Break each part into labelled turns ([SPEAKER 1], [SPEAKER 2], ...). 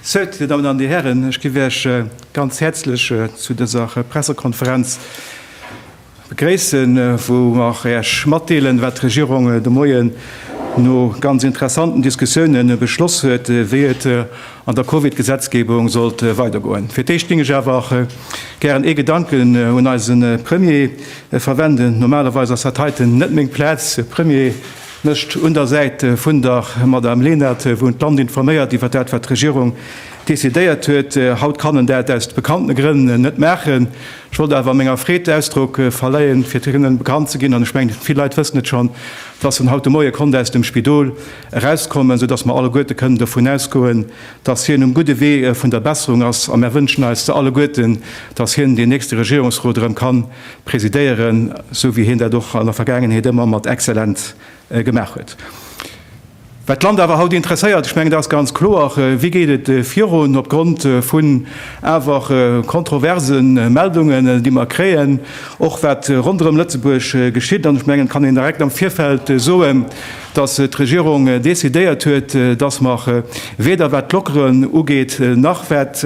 [SPEAKER 1] Sou, Dir Dammen an Dir Hären, ech giff Iech ganz häerzlech zu dëser Pressekonferenz, Begréissen, wou mer Äech matdeelen, wat d'Regierung de Moien no ganz interessanten Diskussiounen beschloss huet, wéi et an der Covid-Gesetzgebung sollt weidergoen. Fir d'éischt géing ech awer gären ee Gedanken un eise Premier verwenden. Normalerweis ass dat heiten net meng Plaz. De Premier mécht un der Säit vun der Madame Lenert, wou en d'Land informéiert iwwer dat, wat d'Regierung decidéiert huet. Haut kann en dat aus bekannte Grënn net maachen. Ech wollt awer menger Freed Ausdrock verleien, fir hinnen bekannt ze ginn, an ech mengen, vill Leit wëssen et schonn, dass en haut de Moie konnt aus dem Spidol erauskommen, sou dass mer alleguerte kënnen dovun ausgoen, dass hien um gudde Wee vun der Besserung ass. A mer wënschen eis se alleguerten, dass hien deen nächste Regierungsrot erëm ka presidéieren, sou wéi hien dat och an der Vergaangenheet ëmmer mat exzellent gemaach huet. Wat d'Land awer haut interesséiert, ech mengen dat ass ganz kloer, Wéi geet et virun opgrond vun awer kontroverse Meldungen, déi mer kréien, och wat ronderëm Lëtzebuerg geschitt? An ech mengen, et kann een direkt am Virfeld soen, dass d'Regierung decidéiert huet, dass mer weder wat d'Lockeren ugeet, nach wat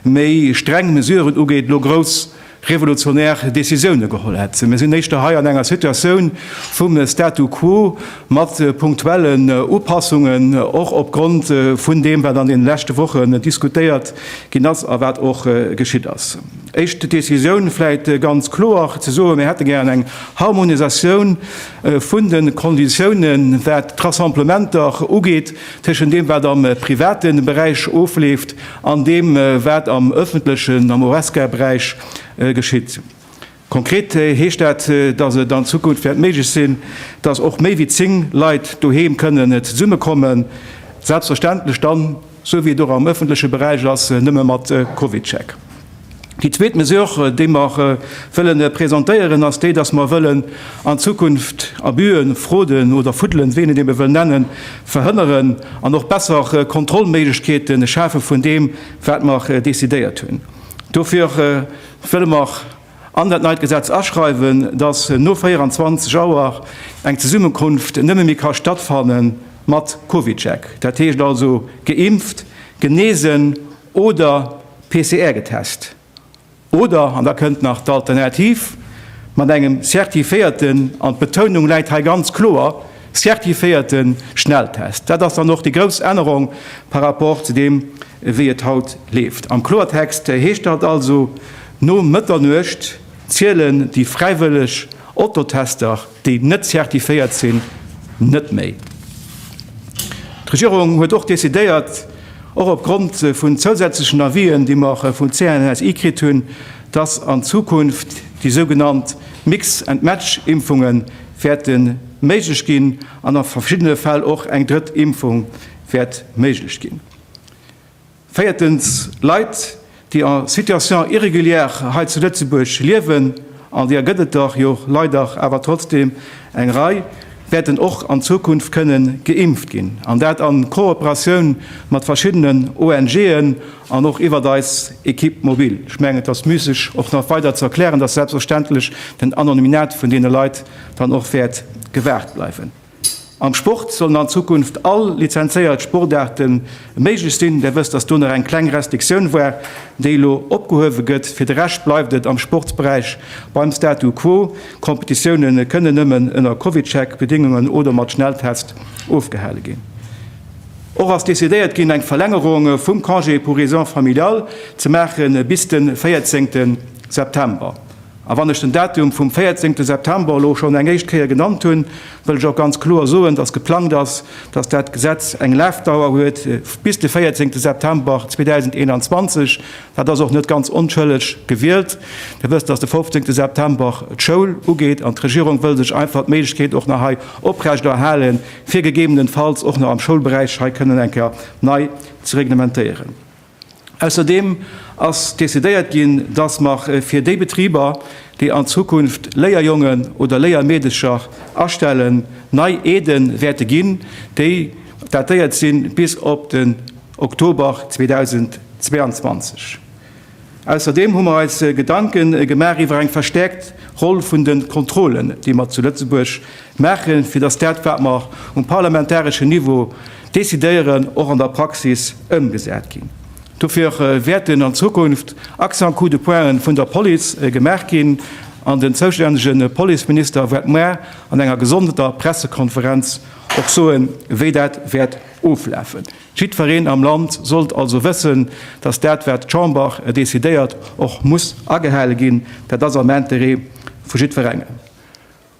[SPEAKER 1] méi streng Mesuren ugeet, elo grouss revolutionär Décisioune geholl hätt. Mir sinn éischter hei an enger Situatioun vum Statu quo mat punktuellen Upassungen, och opgrond vun deem, wat an deene leschte Wochen diskutéiert ginn ass a wat och geschitt ass. Éischt Décisioun, vläicht ganz kloer ze soen, Mir hätte gären eng Harmonisatioun vun de Konditiounen, wat d'Rassemblementer ugeet. Tëschent deem, wat am private Beräich ofleeft, an deem, wat am ëffentlechen, am Horesca-Beräich geschitt. Konkret heescht dat, dass et an Zukunft wäert méiglech sinn, dass och méi wéi zéng Leit doheem kënnen zesummekommen, selbstverständlech dann, esou wéi et och am ëffentleche Beräich ass, nëmme mat Covid-Check. Déi zweet Mesure, déi mer wëlle presentéieren, ass déi, dass mer wëllen an Zukunft Abüen, Frauden oder Fuddelen, wéi een et eebe wëll nennen, verhënneren an och besser Kontrollméiglechkeete schafe vun deem, wat mer decidéiert hunn. Dofir wëlle mer an dat neit Gesetz aschreiwen, dass no 24 Auer eng Zesummenkunft nëmme méi ka stattfanne mat CovidCheck, dat heescht also geimpft, genesen oder, PCR getest oder, an da kënnt nach d'Alternativ, mat engem zertifiéierten, an d'Betounung läit hei ganz kloer, zertifiéierte Schnelltest. Dat ass dann och déi grouss Ännerung par rapport zu deem, wéi et haut leeft. Am Kloertext heescht dat also, No Mëtternuecht zielen déi fräiwëlleg Ototester, déi net zertifiéiert sinn, net méi. D'Regierung huet och decidéiert, och opgrond vun zousätzlechen Avisen, déi mer vun CNSI kritt hunn, dass an Zukunft déi sougenannt Mix and Match Impfunge wäerte méiglech ginn an a verschiddene Fäll och eng drëtt Impfung wäert méiglech ginn. Véiertens, Leit, déi en situation irrégulière hei zu Lëtzebuerg liewen, an deer gëtt et der jo leider awer trotzdem eng Rei, wäerten och an Zukunft kënne geimpft ginn, an dat a Kooperatioun mat verschiddenen ONG'en an och iwwert eis Equipe mobile. Ech mengen, et ass müsseg och nach weider ze erklären, dass selbstverständlech den Anonymiat vun deene Leit dann och wäert gewahrt bleiwen. Am Sport sollen an Zukunft all lizenzéiert Sportaarte méiglech sinn. Där wësst, datt do nach eng kleng Restriktioun war, déi elo opgehuewe gëtt. Fir de Rescht bleift et am Sportsberäich beim Statu quo. Competitioune kënnen nëmmen ënner CovidCheck Bedéngungen oder mat Schnelltest ofgehale ginn. Och ass decidéiert ginn, eng Verlängerung vum Congé pour raisons familiales ze maachen bis de 14 September. A wann ech den Datum vum 14 September elo schonn eng éischt Kéier genannt hunn, wëll ech och ganz kloer soen, dass geplangt ass, dass dat Gesetz eng Lafdauer huet bis de 14 September 2021. Dat ass och net ganz onschëlleg gewielt. Dir wësst, dass de 15 September d'Schoul ugeet an d'Regierung wëll sech einfach d'Méiglechkeet och nach hei oprechterhalen, fir gegebenenfalls och nach am Schoulberäich hei kënnen eng Kéier nei ze reglementéieren. Ausserdeem ass decidéiert ginn, dass mer fir déi Betriber, déi an Zukunft Léierjongen oder Léiermeedecher astellen, nei Aide wäerte ginn, déi datéiert si bis op den Oktober 2022. Ausserdeem hu mer eis Gedanke gemaach iwwer eng verstäerkt Roll vun de Kontrollen, déi mer zu Lëtzebuerg Maachen, fir dass dat, wat mer um parlamentareschen Niveau decidéieren, och an der Praxis ëmgesat ginn. Dofir wäerten an Zukunft Accent coup de pointen vun der Police gemaach ginn an den zoustännege Policeminister wäert muer an enger gesonderter Pressekonferenz och soen, wéi dat wäert oflafen. Jiddwereen am Land sollt also wëssen, dass dat, wat d'Chamber decidéiert, och muss agehale ginn. Dat ass am Intérêt vu jiddwerengem.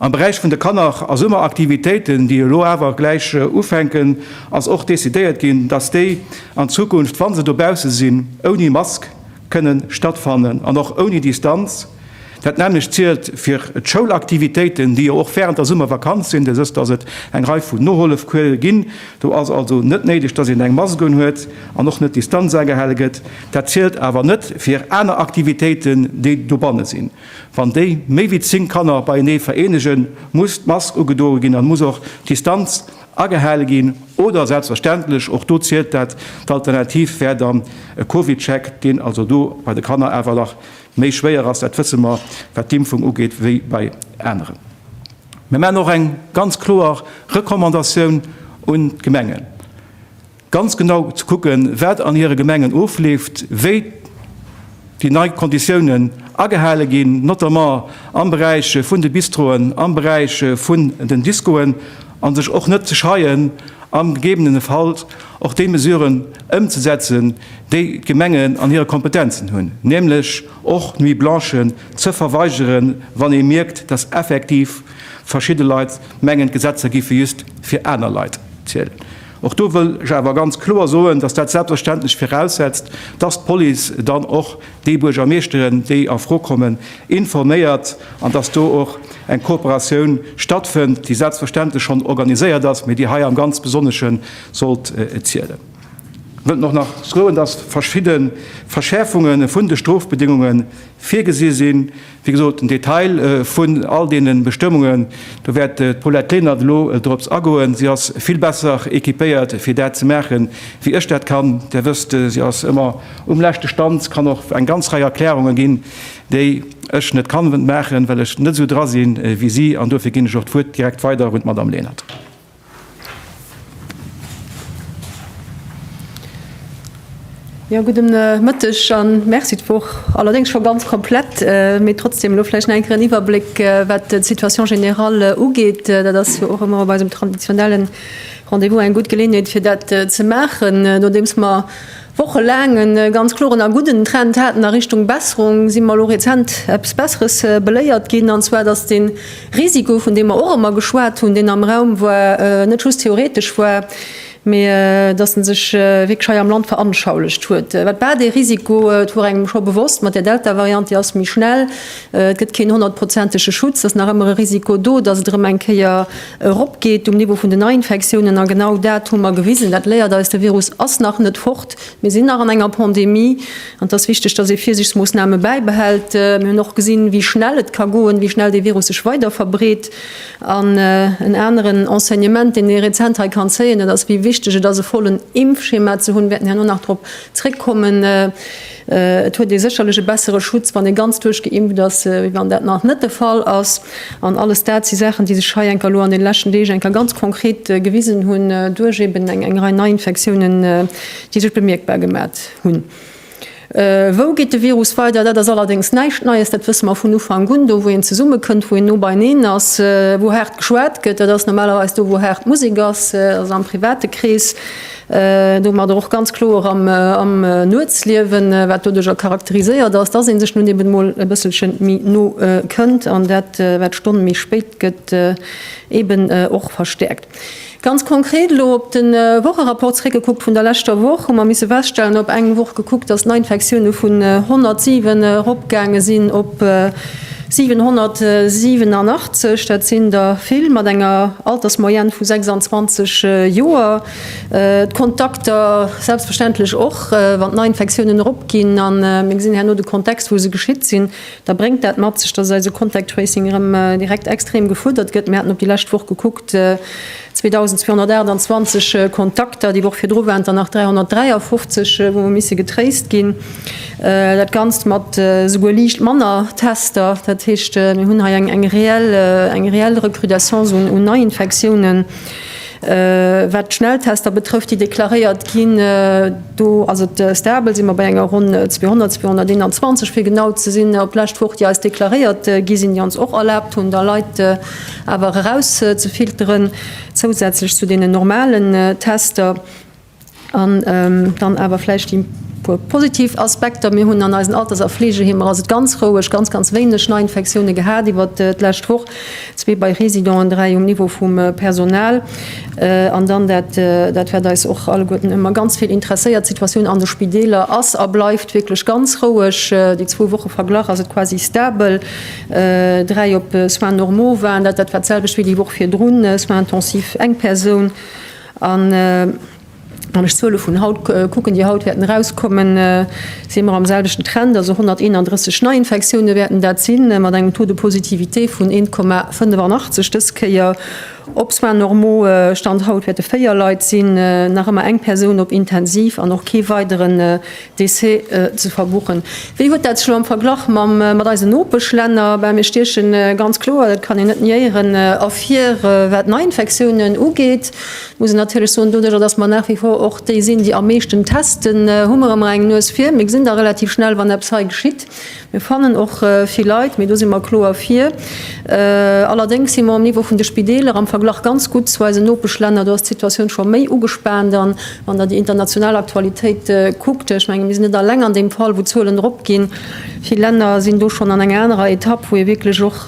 [SPEAKER 1] Am Beräich vun de Kanner a Summeraktivitéiten, déi elo awer gläich ufänken, ass och decidéiert ginn, dass déi an Zukunft, wa se dobausse sinn, ouni Mask kënne stattfannen an och ouni Distanz. Dat nämmlecht zielt fir d'Schoulaktivitéiten, déi jo och während der Summervakanz sinn. Dës dass et eng Rei vun Nohollefcoure ginn. Do ass also net néideg, dass een eng Mask unhuet an och net d'Distanz agehale gëtt. Dat zielt awer net fir aner Aktivitéiten, déi dobanne sinn. Wann déi méi wéi 10 Kanner beienee vereenegen, muss d'Mask ugedoe ginn an muss och d'Distanz agehale ginn oder selbstverständlech, och do zielt dat, d'Alternativ wär dann e Covid-Check, deen also do bei de Kanner awer nach méi schwéier ass, dat wësse mer, wat d'Impfung ugeet, wéi bei aneren. Mir maachen och eng ganz kloer Recommandatioun un d'Gemengen. ganz genau ze kucken, wat an hire Gemengen ofleeft, wéi déi nei Konditiounen agehale ginn, notamment am Beräich vun de Bistroen, am Beräich vun den Discoen, a sech och net ze scheien, am gegebenene Fall och déi Mesuren ëmzesetzen, déi d'Gemengen an hire Kompetenzen hunn, nämlech och d'Nuit blanchen ze verweigeren, wann ee mierkt, dass effektiv verschidde Leit mengen, d'Gesetzer géife just fir aner Leit zielen. Och do wëll ech awer ganz kloer soen, dass dat selbstverständlech viraussetzt, dass d'Police dann och déi Buergermeeschteren, déi a Fro kommen, informéiert an dass do och eng Kooperatioun stattfënnt, déi selbstverständlech schonn organiséiert ass, mä déi hei am ganz Besonnesche sollt zielen. Ech wëllt och nach soen, dass verschidde Verschäerfunge vun de Strofbedéngunge virgesi sinn. Wéi gesot, den Detail vun all deene Bestëmmungen, do wäert d'Paulette Lenert elo dorops agoen. Si ass vill besser équipéiert, fir dat ze maachen, wéi ech dat kann. Dir wësst, si ass ëmmer um leschte Stand, kann och eng ganz Rei Erklärungen ginn, déi ech net kann maachen, well ech net esou dra sinn, wéi si. An dofir ginn ech och d'Wuert direkt weider un d'Madame Lenert.
[SPEAKER 2] Jo, gudde Mëtteg a Merci. D'Woch allerdéngs scho ganz komplett, mee trotzdeem elo vläicht nach eng Kéier en Iwwerbléck, wat d'Situation générale ugeet. Dat ass jo och ëmmer op eisem traditionellen Rendez-vous eng gutt Geleeënheet, fir dat ze maachen, nodeems mer Wochelaang e ganz kloren a gudden Trend haten a Richtung Besserung, si mer elo rezent eppes Besseres beléiert ginn, an zwar datt dee Risiko, vun deem mer och ëmmer geschwat hunn, deen am Raum war, net just theoretesch war, mä datt en sech wierklech hei am Land veranschaulecht huet. Wat war dee Risiko? Et wor engem scho bewosst, mat der Delta-Variant, déi ass méi schnell, et gëtt keen honnertprozentege Schutz, et ass nach ëmmer e Risiko do, datt et erëm eng Kéier, Eropgeet um Niveau vun den Neiinfektiounen. A genau dat hu mer gewisen. Dat léiert eis, De Virus ass nach net fort. Mir sinn nach an enger Pandemie. An et ass wichteg, dass ee Virsiichtsmoossname bäibehält. Mir hunn och gesinn, wéi schnell et ka goen, wéi schnell dee Virus sech weiderverbreet. An en aneren Enseignement, deen ee rezent hei kann zéien, dat ass, wéi wichteg et ass, e vollen Impfschema ze hunn. Wäerten herno nach drop zréckkommen. Et huet ee sécherlech e bessere Schutz, wann ee ganz duerchgeimpft ass, wéi wann dat nach net de Fall ass. An alles dat si Saachen, déi sech hei enker elo an deene leschten Deeg enker ganz konkret gewisen hunn, duerch eben eng Rei Neiinfektiounen, déi sech bemierkbar gemat hunn. Wou geet de Virus weider? Dat ass allerdéngs näischt Neies. Dat wësse mer vun Ufank un. Do, wou een zesummekënnt, wou een no beieneen ass, wou haart geschwat gëtt, dat ass normalerweis do, wou haart Musek ass, also am private Krees. Domadder och ganz kloer am Nuetsliewen, wat doduerch och charakteriséiert ass, dass ee sech nun eben emol e bësselche méi no kënnt an dat, wat d'Stonn méi spéit gëtt, eben och verstäerkt. Ganz konkret elo op de Wocherapport zeréckgekuckt vun der leschter Woch, hu mer misse feststellen, op eng Woch gekuckt, dass d'Neiinfektioune vun 107 eropgaange sinn op 787. Dat sinn der vill, mat enger Altersmoyenne vu 26 Joer. D'Kontakter selbstverständlech och. Wann d'Neiinfektiounen eropginn, a mir gesinn herno de Kontext, wou se geschitt sinn, da bréngt dat mat sech, dass eise Contact Tracing erëm direkt extrem gefuerdert gëtt. Mir haten op déi lescht Woch gekuckt, 2.228 Kontakter, déi Woch virdru waren et der nach 353, wou hu misse getraced ginn. Dat Ganzt mat esouguer liicht manner Tester. Dat heescht, mir hunn hei eng reell Recrudescence un Neiinfektiounen. Wat d'Schnelltester betrëfft, déi deklaréiert ginn, do ass et stable, si mer bei enger ronn 200, 221 fir genau ze sinn, op d'lescht Woch, déi eis deklaréiert gi sinn, déi ons och erlaabt hunn, da Leit awer erauszefilteren, zousätzlech zu deenen normalen Tester. An dann awer vläicht déi puer positiv Aspekter, Mir hunn an eisen Alters a Fleegeheemer ass et ganz roueg, ganz, ganz wéineg Neiinfektioune gehat iwwer d'lescht Woch, zwee bei Residoren, dräi um Niveau vum Personal. An dann dat, dat wat eis och alleguerten ëmmer ganz vill interesséiert, D'Situatioun an de Spideeler ass a bleift wierklech ganz roueg. Déi zwou Woche verglach ass et quasi stabel, dräi op Soins normaux waren dat, dat war d'selwecht wéi déi Woch virdrun, Soins intensifs eng Persoun. An wann ech d'Zuele vun haut kucken, déi haut wäerten erauskommen, si mer am selwechten Trend, also 131 Neiinfektioune wäerten dat sinn, mat engem Taux de positivité vun 1,85 dës Kéier. Op Soins normaux Stand haut wäerte véier Leit sinn, nach ëmmer eng Persoun op Intensiv an och kee weideren D'essai ze verbuchen. Wéi huet dat elo am Verglach mat eisen Nopeschlänner? Bah, mir stiechen ganz kloer, dat kann een net niéieren, ervir. Wat d'Neiinfektiounen ugeet, muss een natierlech soen, doduerjer datt mer nach wie vor och déi sinn, déi am meeschten testen, hu mer ëmmer eng Nues vir. Mir gesinn da relativ schnell, wann eppes hei geschitt. Mir fannen och vill Leit, mee do si mer kloer fir. Allerdéngs si mer um Niveau vun de Spideeler am Verglach ganz gutt zu eisen Nopeschlänner. Do ass d'Situatioun scho méi ugespaant. An wann Der déi international Aktualitéit kuckt, ech menge mir sinn net alleng an deem Fall, wou d'Zuelen eropginn, vill Länner sinn do schonn an enger anerer Etapp, wou ee wierklech och,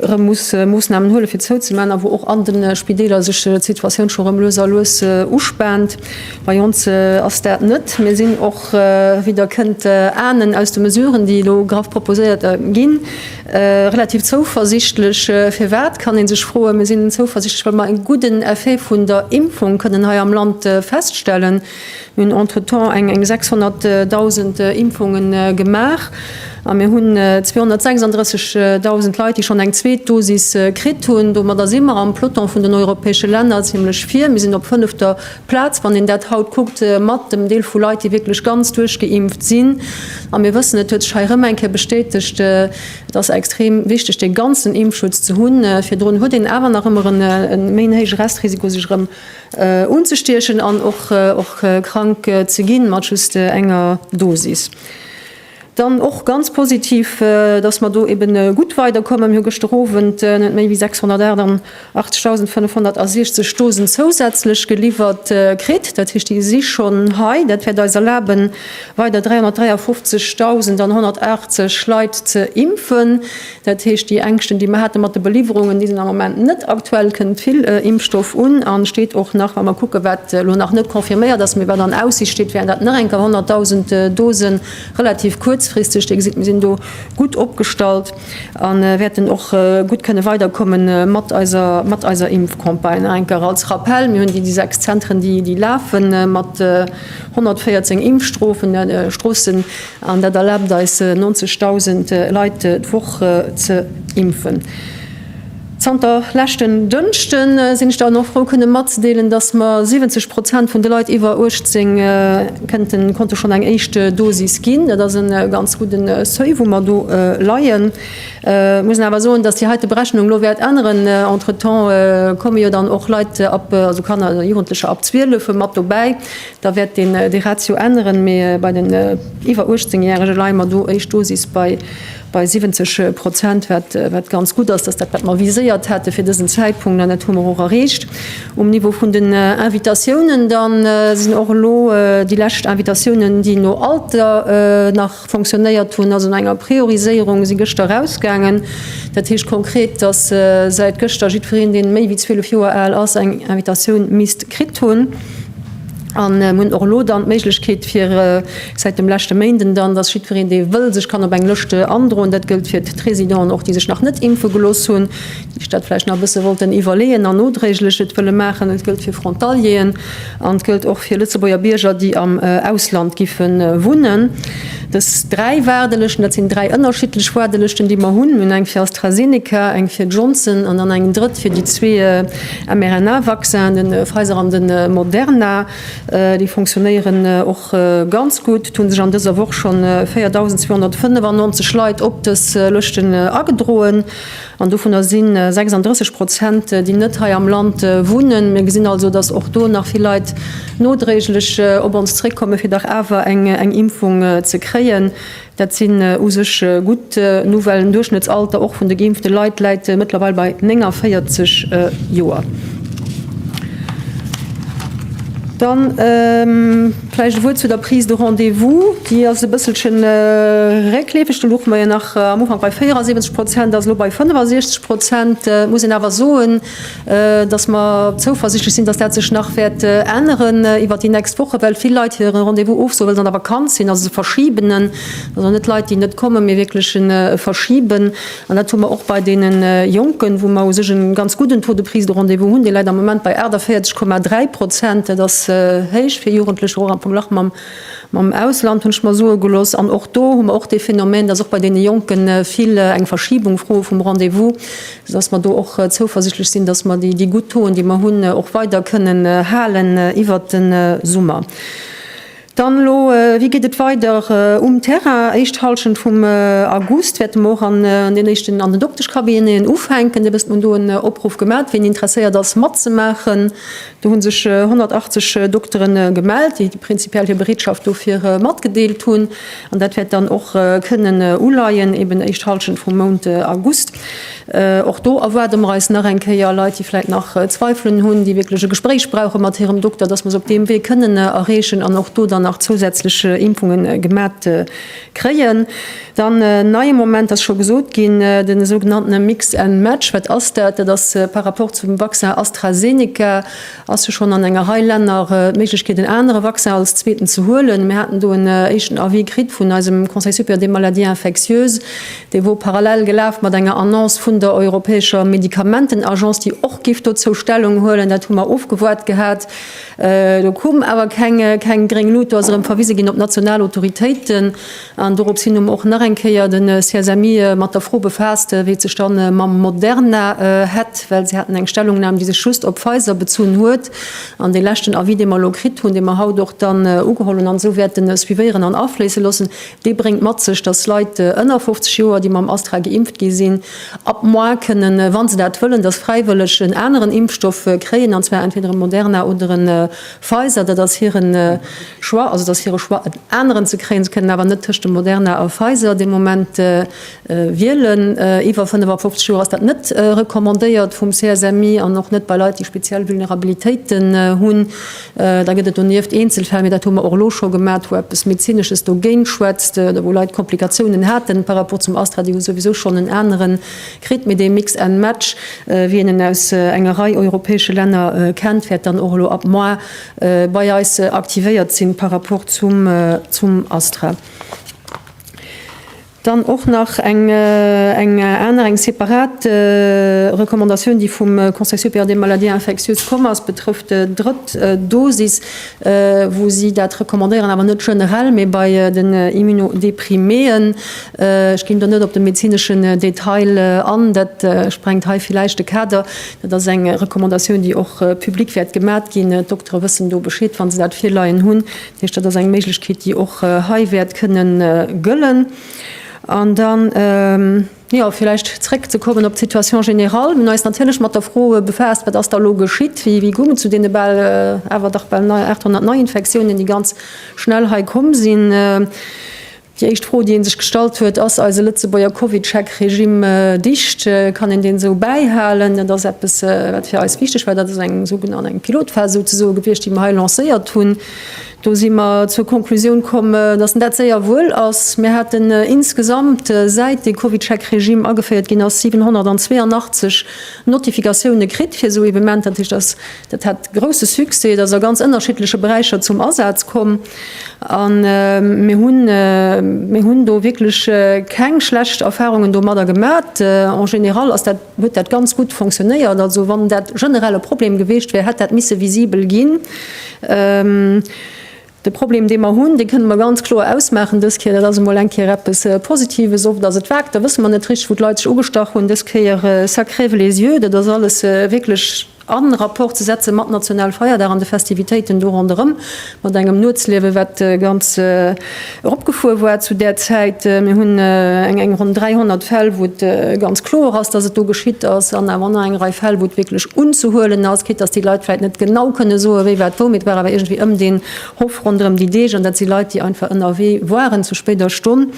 [SPEAKER 2] erëm muss Moossnamen huele fir zouzemaachen a wou och an de Spideeler sech d'Situatioun scho rëm lues a lues uspaant. Bei ons ass dat net. Mir sinn och, wéi Der kënnt ahnen aus de Mesuren, déi elo graf proposéiert ginn, relativ zouversichtlech. Firwat, kann ee sech froen. Mir sinn zouversichtlech, well mer e gudden Effet vun der Impfung kënnen hei am Land feststellen. Mir hunn entretemps eng 600.000 Impfunge gemaach a mir hunn 236.000 Leit, déi schonn eng zweet Dosis kritt hunn. Domadder si mer am Peloton vun den europäesche Länner zimmlech vir. Mir sinn op fënnefter Plaz, wann een dat haut kuckt, mat dem Deel vu Leit, déi wierklech ganz duerchgeimpft sinn. A mir wëssen, et huet sech hei erëm eng Kéier bestätegt, et ass extrem wichteg, dee ganzen Impfschutz ze hunn. Virdrun huet een awer nach ëmmer e méi héije Restrisiko, sech erëm Unzestiechen an och krank ze ginn mat just enger Dosis. Dann och ganz positiv, dass mer do eben gutt weiderkommen. Mir hu gëschter Owend net méi wéi 688.560 Dosen zousätzlech geliwwert kritt. Dat heescht, déi si schonn hei. Dat wäert eis erlaben, weider 353.180 Leit ze impfen. Dat heescht, déi Ängschten, déi mer hate mat de Beliwwerungen, déi sinn am Moment net aktuell. Et kënnt vill Impfstoff un an et steet och nach, wa mer kucken, wat elo nach net confirméiert ass, mee wat an Aussicht steet, wären dat nach eng Kéier 100.000 Dosen relativ kuerzfristeg. Dir gesitt, mir sinn do gutt opgestallt a wäerten och gutt kënne weiderkomme mat eiser Impfcampagne. Nach eng Kéier als Rappell, Mir hunn déi sechs Zentren, déi lafe mat 114 Impfstrossen. An dat erlaabt eis 90.000 Leit d'Woch ze impfen. Zanter leschten Dënschde sinn ech dann och frou kënne matzedeelen, datt mer 70 Prozent vun de Leit iwwer 18 konnte schonn eng éischt Dosis ginn. Dat ass e ganz gudde Seuil wou mer do leien. Ech muss awer soen, datt déi heite Berechnung elo wäert änneren. Entretemps komme jo dann och Leit, also Kanner a Jugendlecher ab 12 mat dobäi. Da wäert een déi Ratio änneren, mee bei den iwwer 18 Järege leie mer do éischt Dosis bei 70 Prozent, wat ganz gutt ass. Dat ass dat, wat mer viséiert hate fir dësen Zäitpunkt, an dat hu mer och erreecht. Um Niveau vun den Invitatiounen da sinn och elo déi lescht Invitatiounen, déi no Alter nach, Fonctionnéiert hunn, ass un enger Prioriséierung, si gëschter erausgaangen. Dat heescht konkret, dass säit gëschter jiddwereen, dee méi wéi 12 Joer al ass, eng Invitatioun misst kritt hunn. A mir hunn och elo dann d'Méiglechkeet fir, säit dem leschte Méinden dann, dass jiddwereen, dee wëll, sech kann op eng Lëscht androen. Dat gëllt fir d'Résidenten och, déi sech nach net impfe gelooss hunn, déi sech dat vläicht nach e bësse wollten iwwerleeën an nodréiglech et wëlle maachen. Et gëllt fir Frontalieren. An et gëllt och fir Lëtzebuerger Bierger, déi am Ausland giffe wunnen. Dës dräi Waardelëschten, dat sinn dräi ënnerschiddlech Waardelëschten, déi mer hunn. Mir hunn eng fir AstraZeneca, eng fir Johnson an dann eng drëtt fir déi zwee mRNA-Vaccinen, de Pfizer an de Moderna. Déi fonctionnéieren och ganz gutt. Et hu sech an dëser Woch scho 4.295 Leit op dës Lëschten agedroen. An dovunner si 36 Prozent, déi net hei am Land wunnen. Mir gesinn also, dass och do nach vill Leit nodréiglech op ons zréckkommen, fir dach awer eng Impfung ze kréien. Dat sinn u sech gutt Nouvellen. Den Duerchschnëttsalter och vun de geimpfte Leit läit mëttlerweil bei 49 Joer. Vläicht e Wuert zu der Prise de rendez-vous. Déi ass e bësselche réckleefeg. Do luche mer jo nach am Ufank bei 74 Prozent, ass elo bei 65 Prozent. Et muss een awer soen, dass mer zouversichtlech sinn, dass dat sech nach wäert änneren iwwert déi nächst Wochen, well vill Leit hire Rendez-vous ofsoen, well se an der Vakanz sinn, also se verschiben en. Also net Leit, déi net kommen, mee wierklech e Verschiben. An dat hu mer och bei deene Jonken, wou mer u sech e ganz gudden Taux de prise de rendez-vous hunn. Dee läit am Moment bei 48,3 Prozent. Dat ass héich fir Jugendlecher, och am Verglach mam Ausland, hunn ech mer soe gelooss. An och do hu mer och dee Phänomen, dass och bei deene Jonke vill eng Verschibung froe vum Rendez-vous, soudass mer do och zouversichtlech sinn, dass mer déi gutt Tauxen, déi mer hunn, och weider kënnen halen iwwert de Summer. Dann elo, wéi geet et weider um Terrain? Éischt Hallschent vum August wäerte mer och an den éischten, an den Dokteschcabineten ufänken. Dee wësst, mer hunn do en Opruff gemat, wien interesséiert ass matzemaachen. Do hu sech 180 Doktere gemellt, déi prinzipiell hir Bereetschaft dofir matgedeelt hunn. An dat wäert dann och kënnen uleien, eben éischt Hallschent vum Mount August. Och do erwaarde mer eis nach eng Kéier Leit, déi vläit nach Zweifelen hunn, déi wierklech e Gespréich brauche mat hirem Dokter, dass mer se op deem Wee kënnen erreechen an och do dann nach zousätzlech Impfunge gemat kréien. Dann en neie Moment ass scho gesot ginn, de sougenanntene Mix and match. Wat ass dat? Dat ass par rapport zum Vaccin AstraZeneca ass jo schonn an enger Rei Länner d'Méiglechkeet, en anere Vaccin als zweeten ze huelen. Mir haten do en éischten Avis kritt vun eisem Conseil supérieur des maladies infectieuses, Dee wor parallel gelaf mat enger Annonce vun der europäescher Medikamentenagence, déi och giff dozou Stellung huelen. Dat hu mer ofgewoart gehat. Do koum awer keng gréng Lut. Do ass erëm verwise ginn op national Autoritéiten. An dorops hin hu mer och nach eng Kéier de CSMI mat der Fro befaasst, wéi et sech da mam Moderna hätt, well se haten eng Stellungnam, déi sech just op Pfizer bezunn huet. An dee leschten Avis, dee mer elo kritt hunn, dee mer haut och dann ugeholl hunn an esou wäerte suivéieren an afléisse loossen, Dee bréngt mat sech, dass Leit ënner 50 Joer, déi mam Astra geimpft gi sinn, ab Mois kënnen, wa se dat wëllen, dass fräiwëlleg en aneren Impfstoff kréien, an zwar entweder e Moderna oder e Pfizer. Dat ass hire Choix. Also et ass hire Choix, en aneren ze kréien. Se kënnen awer net tëscht dem Moderna a Pfizer dee Moment wielen. Iwwer 55 Joer ass dat net recommandéiert vum CSMI an och net bei Leit, déi speziell Vulnerabilitéiten hunn. Da gëtt et donieft Eenzelfäll, mee dat hu mer och elo scho gemat, wou eppes Medezinesches dogéint schwätzt oder wou Leit Komplikatiounen haten par rapport zum Astra, déi hu souwisou schonn en anere kritt. Mee dee Mix and match, wéi een en aus enger Rei europäesche Länner kennt, wäert dann och elo ab Mai bei eis aktivéiert sinn par rapport zum Astra. Dann och nach eng aner, eng separat Recommandatioun, déi vum Conseil supérieur des maladies infectieuses komm ass, betrëfft d'drëtt Dosis, wou si dat recommandéieren, awer net generell, mee bei den Immunodepriméen. Ech ginn do net op de medezineschen Detail an, dat sprengt hei villäicht de Kader. Dat ass eng Recommandatioun, déi och public wäert gemat ginn. D'Doktere wëssen do Bescheed, wa se dat virleien hunn. Heescht, dat ass eng Méiglechkeet, déi och hei wäert kënne gëllen. An dann, jo, vläicht zréckzekommen op d'Situation générale. Mir hunn eis natierlech mat der Fro befaasst, Wat ass da elo geschitt? Wéi goung et zu deene bal, awer dach bal 800 Neiinfektiounen, déi ganz schnell hei komm sinn? Déi éischt Fro, déi ee sech gestallt huet, ass eise Lëtzebuerger Covid-Check-Regime dicht? Kann een deen esou bäihalen? Dat ass eppes, wat fir eis wichteg war. Dat ass eng sougenannt eng Pilotphas souzesoe gewiescht, déi mer hei lancéiert hunn. Do si mer zur Konklusioun komm, dass en dat séier wuel ass. Mir haten insgesamt, säit dee Covid-Check-Regime ageféiert ginn ass, 782 Notifikatioune kritt fir esou Evenementer. Dat heescht, dass Dat hat grousse Succès, et ass a ganz ënnerschiddleche Beräicher zum Asaz komm a mir hunn mir hunn do wierklech keng schlecht Erfarungen domadder gemat. En général ass dat huet dat ganz gutt fonctionnéiert. Also wann dat generell e Problem geweecht wär, hätt dat misse visibel ginn. De Problem, dee mer hunn, dee kënne mer ganz kloer ausmaachen dës Kéier, dat ass emol eng Kéier eppes Positives, oft ass et vag, da wësse mer net richteg, wou d'Leit sech ugestach hunn, dës Kéier, ça crève les yeux, dat ass alles wierklech a Rapport ze setze mat Nationalfeierdag an de Festivitéiten do ronderëm, mat engem Nuetsliewe wat ganz eropgefuer war zu där Zäit. Mir hunn eng ronn 300 Fäll, wou et ganz kloer ass, datt et do geschitt ass. dann awer an eng Rei Fäll, wou et wierklech unzehuelen ass, quitt dass déi Leit vläicht net genau kënne soen, wéi wat wou, mee et war awer iergendwéi ëm deen Hof ronderëm déi Deeg an dat si Leit, déi einfach ënnerwee waren zu spéider Stonn,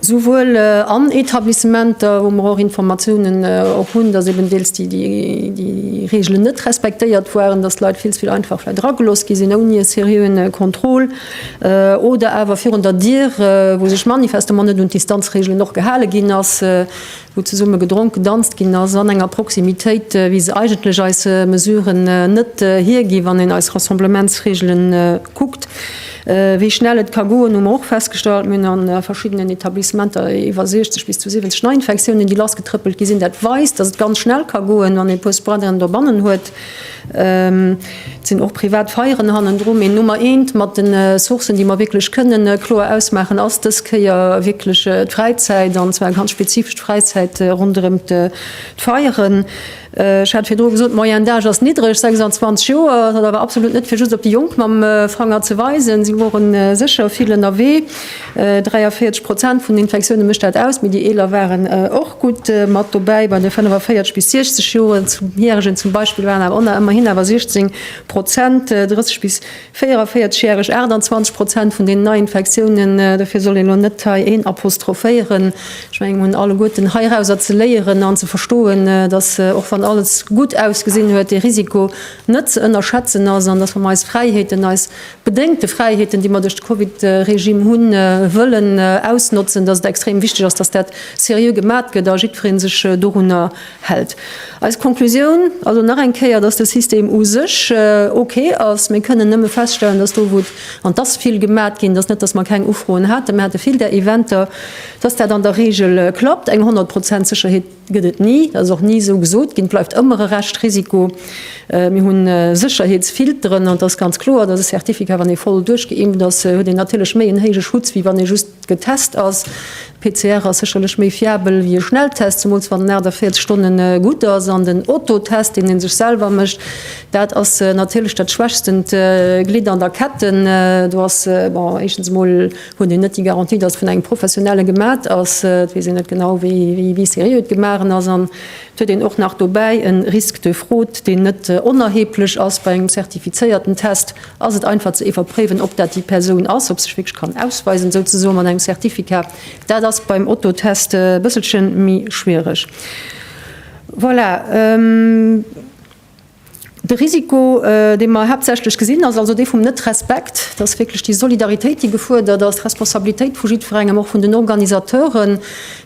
[SPEAKER 2] souwuel an Etablissementer, wou mer och Informatiounen och hunn, dass eben deels déi Reegelen net respektéiert waren, dass d'Leit vill ze vill einfach vläicht eragelooss gi sinn ouni e seriöen Contrôle oder awer virun der Dier, wou sech manifestement net un d'Distanzreegelen och gehale ginn ass. wou zesumme gedronk, gedanzt ginn ass an enger Proximitéit, wéi se eigentlech eis Mesuren net hiergi wann een eis Rassemblementsreegele kuckt, wéi schnell et ka goen, hu mer och festgestallt. Mir hunn a verschiddenen Etablissementer iwwer 60 bis zu 70 Neiinfektiounen, déi lassgetrëppelt gi sinn. Dat weist, datt et ganz schnell ka goen, wann ee e puer Spuaderen dobannen huet. Et sinn och privat Feieren hannendru, mee Nummer eent mat den Sourcen, déi mer wierklech kënnen kloer ausmaachen, ass dës Kéier wierklech d'Fräizäit, an zwar eng ganz spezifesch Fräizäit ronderëm d'Feieren. Ech hat virdru gesot, d'Moyenne d'âge ass niddreg, 26 Joer. Dat ass awer absolut net fir just op déi Jonk mam Fanger ze weisen, si woren sécher vill ënnerwee. 43 Prozent vun den Infektioune mécht dat aus, mee déi Eeler waren och gutt mat dobäi. Bei de 45 bis 60 Joer Järegen zum Beispill waren awer ënner ëmmerhin awer 16 Prozent, 30 bis 44 Järeg 28 Prozent vun deenen Neiinfektiounen. Dofir soll een elo net hei een apostrophéieren. Ech mengen, mir hunn alleguerten heirauser ze léieren an ze verstoen, datt och wann alles gutt ausgesinn huet, de Risiko net ze ënnerschätzen ass an datt wa mer eis Fräiheeten, eis Bedéngt de Fräiheeten, déi mer duerch de Covid-Regime hunn, wëllen ausnotzen, datt et extrem wichteg ass, datt dat seriö gemat gëtt a jiddweree sech dorunner hält. Eis Conclusioun, also nach eng Kéier, datt de System u sech ok ass. Mir kënnen nëmme feststellen, datt do, wou et, an et ass vill gemat ginn, et ass net, datt mer keng Ufroen haten, mir hate vill där Eventer, datt dat an der Reegel klappt, eng 100 Prozent Sécherheet, Gëtt et ni, dat ass och ni esou gesot ginn. Et bleift ëmmer e Reschtrisiko. Mir hu Sécherheetsfilteren an et ass ganz kloer, dass e Certificat, wann ee voll duerchgeimpft ass, huet een natierlech méi en héije Schutz, wéi wann ee just getest ass. PCR ass sécherlech méi fiabel wéi e Schnelltest, zemools wann en 48 Stonne gutt ass. An den Autotest, deen ee sech selwer mécht, dat ass natierlech dat schwächstent Glidd an der Ketten. Do ass, bon, éischtens emol, Huet een net déi Garantie, dass et vun engem Professionelle gemat ass? Et weess een net genau, wéi seriö et gemachen ass. An et huet een och nach dobäi e Risque de fraude, deen net onerheblech ass bei engem zertifizéierten Test. Ass et einfach ze iwwerpréiwen, ob dat déi Persoun ass, ob se sech wierklech kann ausweisen souzesoe mat engem Certificat? Dat ass beim Autotest e bësselche méi schwiereg. Voilà. De Risiko, dee mer haaptsächlech gesinn, ass also dee vum Net-Respekt. Et ass wierklech déi Solidaritéit, déi gefuerdert ass, d'Responsabilitéit vu jiddwerengem, och vun den Organisateuren,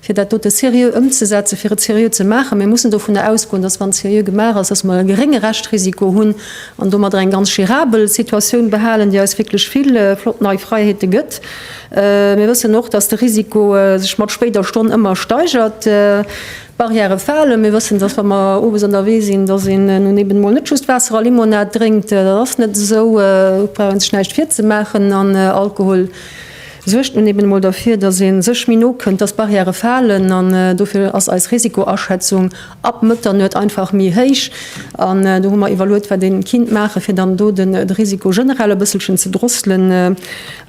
[SPEAKER 2] fir dat dote seriö ëmzesetzen, fir et seriö ze maachen. Mir mussen dovunner ausgoen, dass, wann et seriö gemaach ass, dass mer e gerénge Reschtrisiko hunn an domadder eng ganz gérabel Situatioun behalen, déi eis wierklech vill flott nei Fräiheete gëtt. Mir wëssen och, dass de Risiko, sech mat spéider Stonn ëmmer steigert. D'Barrièrë falen. Mir wëssen, dass wa mer owes ënnerwee sinn, dass een nun eben emol net just Waasser a Limonad drénkt. Dat ass net esou, do brauch ee sech näischt virzemaachen. An Alkohol suergt nun eben emol derfir, dass ee sech méi no kënnt, dass d'Barrièrë falen. An dofir ass eis Risikoaschätzung ab Mëtternuet einfach méi héich. An do hu mer iwwerluet, wat ee kinnt maachen, fir dann do de Risiko generell e bësselchen ze drosselen.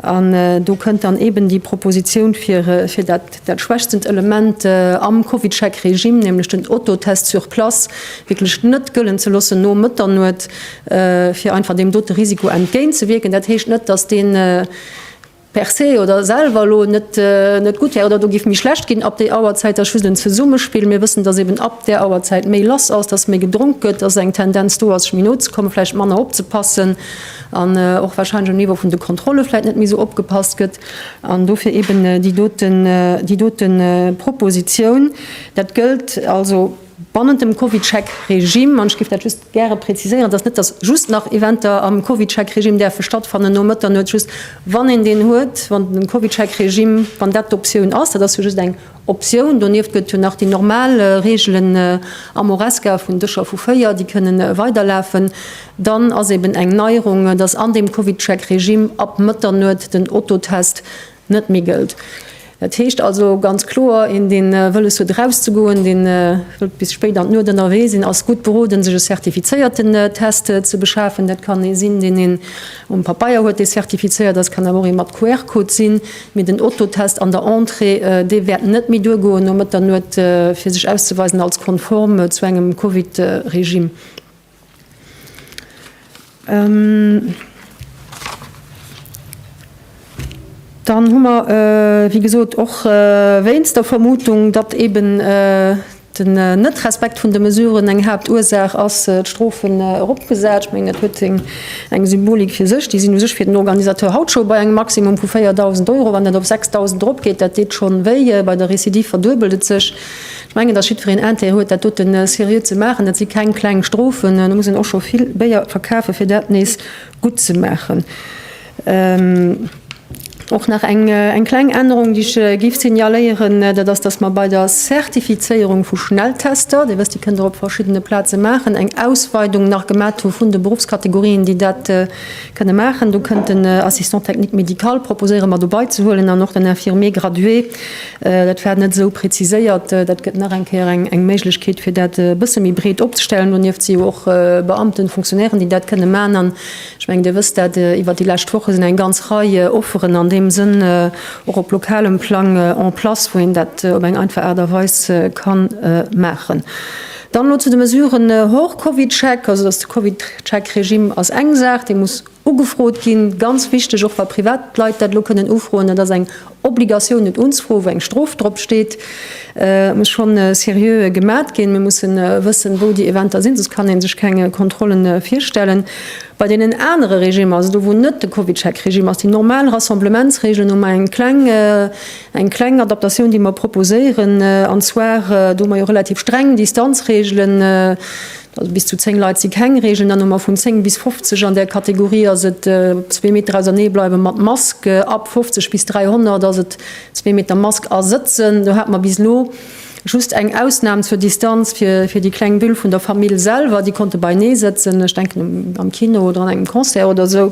[SPEAKER 2] An do kënnt dann eben déi Propositioun, fir dat Dat schwächstent Element am CovidCheck-Regime, nämlech den Autotest sur place, wierklech net gëllen ze loossen no Mëtternuet, fir einfach deem dote Risiko entgéint ze wierken. Dat heescht net, dass dee per se oder selwer elo net gutt wär oder do géif méi schlecht ginn ab déi Auerzäit. Dat ass just en Zesummespill. Mir wëssen, dass eben ab där Auerzäit méi lass ass, dass méi gedronk gëtt, dass eng Tendenz do ass, sech méi no ze kommen, vläicht manner opzepassen an och warscheinlech um Niveau vun de Kontrolle vläicht net méi esou opgepasst gëtt. An dofir eben déi dote, déi dote Proposition. Dat gëllt also bannent dem CovidCheck-Regime. An ech géif dat just gäre präziséieren, et ass net, dass just nach Eventer am CovidCheck-Regime däerfe stattfannen no Mëtternuet, just wann een deen huet, wann de CovidCheck-Regime, wann dat d'Optioun ass. Dat ass jo just eng Optioun. Donieft gëtt jo nach déi normal Reegelen am Horesca vun Dëscher vu véier, déi kënnen weiderlafen. Dann ass eben eng Neierung, dass an deem CovidCheck-Regime ab Mëtternuet den Ototest net méi gëllt. Dat heescht also ganz kloer, een dee wëlles huet eraus ze goen, dee wëllt bis spéit an d'Nuet ënnerwee sinn, ass gutt beroden sech e zertifizéierten Test ze beschafen. Dat kann ee sinn, deen een um Papeier huet, dee zertifizéiert ass, kann awer och ee mat QR-Code sinn. Mee den Otto-Test an der Entrée, dee wäert net méi duergoen no Mëtternuet, fir sech auszeweisen als konform zu engem Covid-Regime. Dann hu mer, wéi gesot, och wéinst der Vermutung, datt eeben Den Net-Respekt vun de Mesuren, eng Haaptursaach ass d'Strofen eropgesat. Ech mengen, dat huet eng Symbolik fir sech. Déi sinn u sech fir den Organisateur haut scho bei engem Maximum vu 4.000 Euro. Wann dat op 6.000 eropgeet, dat deet schonn wéi. Bei der Recidive verduebelt et sech. Ech mengen, dass jiddwereen Intérêt huet, dat dote seriö ze maachen. Dat si keng kleng Strofen. Do muss een och scho vill Béier verkafen, fir dat nees gutt ze maachen. Och nach eng kleng Ännerung, déi ech géif signaléieren, dat ass, dass mer bei der Zertifizéierung vu Schnelltester, Dir wësst, déi kënnt Der op verschiddene Plaze maachen, eng Ausweidung nach gemaach hu vun de Beruffskategorien, déi dat kënne maachen. Do kënnt den Assistant technique médical proposéiere mer dobeizehuelen an och den Infirmier gradué. Dat war net esou preziséiert. Dat gëtt nach eng Kéier eng Méiglechkeet, fir dat e bësse méi breet opzestellen. Donieft si jo och Beamten, Fonctionnairen, déi dat kënne maachen. Ech mengen, Dir wësst dat, iwwert déi lescht Woche sinn eng ganz Rei Offeren an deem Sënn och op lokalem Plang en place, wou een dat op eng einfach Aart a Weis ka maachen. Dann elo zu de Mesuren hors Covid-Check. Also, dass de Covid-Check-Regime ass eng Saach, dee muss ugefrot ginn, ganz wichteg, och wa privat Leit dat elo kënnen ufroen. Dat ass eng Obligatioun un unzfroe wou eng Strof drop steet muss schonn seriö gemat ginn. Mir mussen wëssen wou déi Eventer sinn, soss kann ee sech keng Kontrollen virstellen. Bei deenen anere Regimer, also do wou net de CovidCheck Regime ass, déi normal Rassemblementsregeln hu mer eng kleng eng kleng Adaptatioun déi mer proposéieren an zwar do hu mer jo relativ streng Distanzregelen, Also bis zu 10 Leit si keng Reegel. Dann hu mer vun 10 bis 50. An där Kategorie ass et op zwee Meter ausernee bleiwe mat Mask. Ab 50 bis 300 ass et zwee Meter Mask a sëtzen. Do hat mer bis elo just eng Ausnam zur Distanz fir déi kleng Bulle vun der Famill selwer. Déi konnte beienee sëtzen, ech denken am Kino oder an engem Concert oder esou.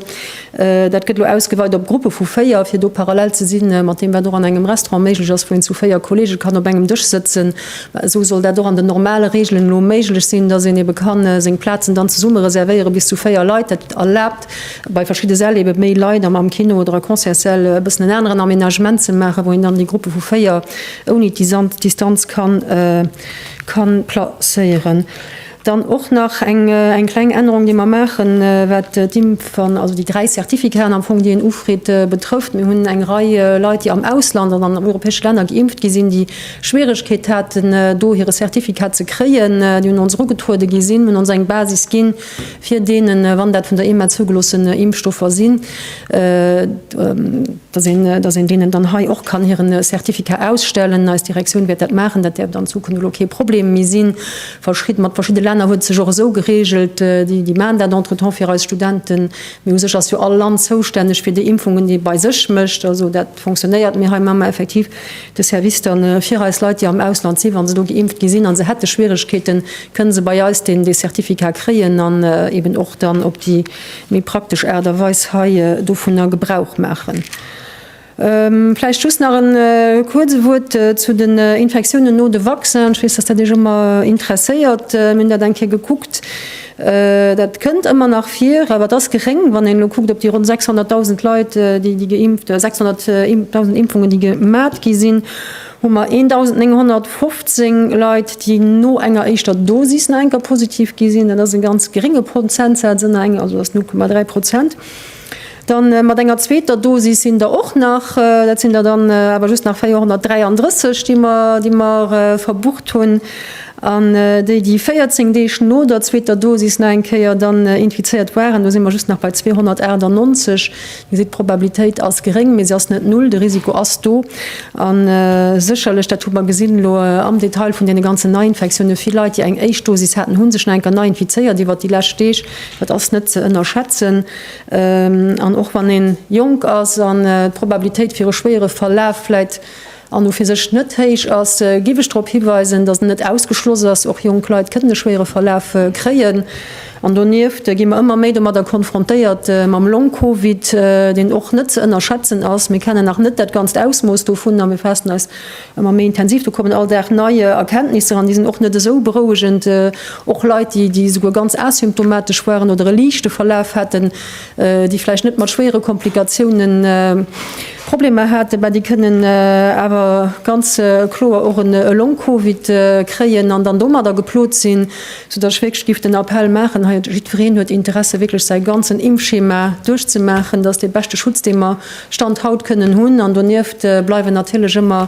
[SPEAKER 2] Dat gëtt elo ausgeweit op Gruppe vu véier, fir do parallel ze si mat deem, wat och an engem Restaurant méiglech ass, wou een zu véier Kollege kann op engem Dësch sëtzen. Esou soll dat och an den normale Reegelen elo méiglech sinn, dass een ebe ka seng Plazen dann zesumme reservéiere bis zu véier Leit. Dat erlaabt bei verschidde Säll ebe méi Leit, am Kino oder a Concertssäll e bëssen en aneren Amenagement ze maachen, wou een dann déi Gruppe vu véier ouni d'Distanz ka placéieren. Dann och nach eng kleng Ännerung, déi mer maachen, wat d'Impfen, also déi dräi Certificat'en am Fong, déi en ufridd, betrëfft. Mir hunn eng Rei Leit, déi am Ausland an an europäesche Länner geimpft gi sinn, déi Schwieregkeet haten, do hire Certificat ze kréien. Déi un ons erugetruede gi sinn, hunn ons eng Basis ginn, fir deenen, wann dat vun der EMA zougeloossen Impfstoffer sinn, dass een deenen dann hei och kann hire Certificat ausstellen. Eis Direktioun wäert dat maachen, dat däerft an Zukunft elo kee Problem méi sinn. Verschid, mat verschidde Länner huet et sech och esou geregelt, déi, déi maachen dat entretemps fir eis Studenten, mee u sech ass jo all Land zoustänneg fir déi Impfungen, déi e bei sech mécht. Also dat fonctionnéiert, mee hei hu mer effektiv de Service dann fir eis Leit, déi am Ausland sinn, wa se do geimpft gi sinn a se hätte Schwierigkeeten, kënne se bei eis deen, dee Certificat kréien an eben och dann op déi méi praktesch Aart a Weis hei dovunner Gebrauch maachen. Vläicht just nach e kuerze Wuert zu den Infektiounen no de Vaccin. Ech weess, dass dat Iech ëmmer interesséiert. Mir hunn dat eng Kéier gekuckt. Dat kënnt ëmmer nach vir, awer et ass geréng, wann een elo kuckt op déi ronn 600.000 Leit, déi geimpft, 600.000 Impfungen, déi gemat gi sinn, hu mer 1.915 Leit, déi no enger éischter Dosis nach eng Kéier positiv gi sinn. Dat ass e ganz gerénge Prozentsaz, also ass 0,3 Prozent. Dann mat enger zweeter Dosis sinn der och nach, dat sinn der dann awer just nach 433, déi mer, déi mer verbucht hunn. An déi, déi 14 Deeg no der zweeter Dosis nach eng Kéier dann infizéiert waren, do si mer just nach bei 298. Dir gesitt, d'Probabilitéit ass geréng, mee se ass net null. De Risiko ass do. A sécherlech, dat hu mer gesinn elo am Detail vun deene ganzen Neiinfektiounen, vill Leit, déi eng éischt Dosis haten, hu sech nach eng Kéier nei infizéiert iwwert déi lescht Deeg. Dat ass net ze ënnerschätzen. An och wann een jonk ass an d'Probabilitéit fir e schwéiere Verlaf vläit an u fir sech net héich ass, giff ech drop hiweisen, dass en net ausgeschloss ass. Och jonk Leit kënnen e schwéiere Verlaf kréien. An donieft gi mer ëmmer méi domadder konfrontéiert mam Long-Covid, deen och net ze ënnerschätzen ass. Mir kennen nach net dat ganzt Ausmooss dovun a mir faassen eis Ëmmer méi intensiv, do kommen all Dag nei Erkenntnisser an déi sinn och net esou berouegend. Och Leit, déi déi esouguer ganz asymptomatesch waren oder e liichte Verlaf haten, déi vläicht net mat schwéiere Komplikatioune Problemer haten, mä déi kënnen awer ganz kloer och e Long-Covid kréien an dann domadder geplot sinn. Soudass ech wierklech géif den Appell maachen hei, jiddwereen huet Interesse wierklech säi ganzen Impfschema duerchzemaachen, dat ass dee beschte Schutz, dee mer Stand haut kënnen hunn. An donieft bleiwen natierlech ëmmer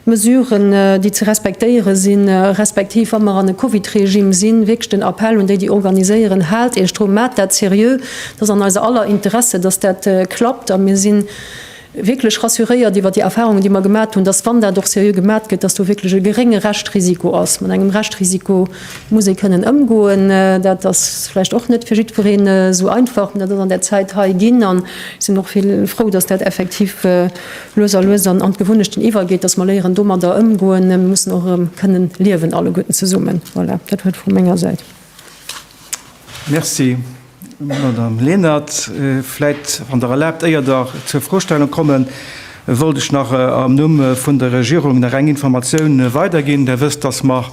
[SPEAKER 2] d'Mesuren, déi ze respektéiere sinn, respektiv wa mer an e Covid-Regime sinn. Wierklech den Appell un déi, déi organiséieren, Haalt Iech dru, maacht dat seriö. Et ass an eiser aller Interesse, dass dat klappt. A mir si wierklech rassuréiert iwwert déi Erfahrungen, déi mer gemat hunn, dass, wann dat och seriö gemat gëtt, dass do wierklech e gerénge Reschtrisiko ass, mat engem Reschtrisiko, muss ee kënnen ëmgoen. Dat ass vläicht och net fir jiddwereen esou einfach, mee dat ass an där Zäit hei ginn. An ech sinn och vill frou, dass dat effektiv lues a lues an d'Gewunnechten iwwergeet, dass mer léieren domadder ëmgoen. Mir mussen och erëm kënnen liewen alleguerten zesummen. Voilà, dat war et vu menger Säit. Merci.
[SPEAKER 1] Madamm Lenert, vläit, wann Der erlaabt, éier Der zur Frostellung kommen, wollt ech nach am Numm vun der Regierung nach eng Informatioun weiderginn. Der wësst, dass mer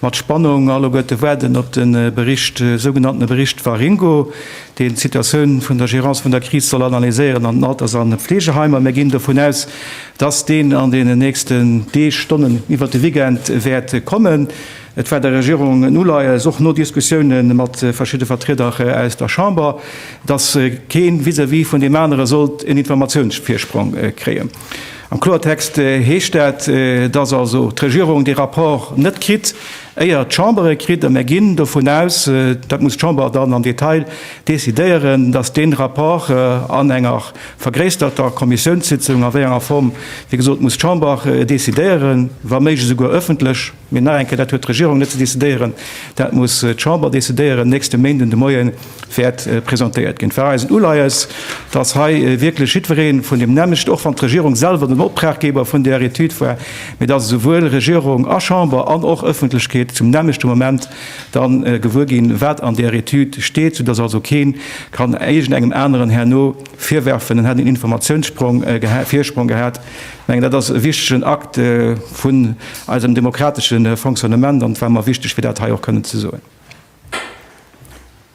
[SPEAKER 1] mat Spannung alleguerte waarden op de Bericht, sougenannte Bericht Waringo, deen d'Situatioun vun der Gérance vun der Kris soll analyséieren an den Alters a Fleegeheimer. Mir ginn dovun aus, dass deen an deenen nächsten Deeg, Stonnen, iwwert de Weekend wäert kommen. Et war der Regierung en Uleies, och no Diskussioune mat verschidde Vertrieder aus der Chamber, datt kee vis-à-vis vun deem anere sollt en Informatiounsvirsprong kréien. Am Kloertext heescht dat, datt also d'Regierung dee Rapport net kritt, éier d'Chamber e kritt. A mir ginn dovun aus, dat muss d'Chamber dann am Detail decidéieren, datt dee Rapport an enger vergréissterter Kommissiounssitzung, a wéi enger Form, wéi gesot, muss d'Chamber decidéieren, wa méiglech esouguer ëffentlech, Mee nach eng Kéier, dat huet d'Regierung net ze decidéieren, dat muss d'Chamber decidéieren. Nächste Méinden de Moie wäert presentéiert ginn. Et war eisen Uleies, dass hei wierklech jiddweree vun deem nämmlechten, och wann d'Regierung selwer den Optraggeber vun där Etüd war, mee dass esouwuel Regierung a Chamber an och Ëffentlechkeet zum nämmlechte Moment da gewuer ginn, wat an där Etüd steet, soudass also kee kann iergendengem aneren herno virwerfen, en hätt en Informatiounsvorsprong gehat. Ech mengen, dat ass e wichtegen Akt vun eisem demokratesche Fonctionnement, an et war mer wichteg, fir dat hei och kënnen ze soen. Ech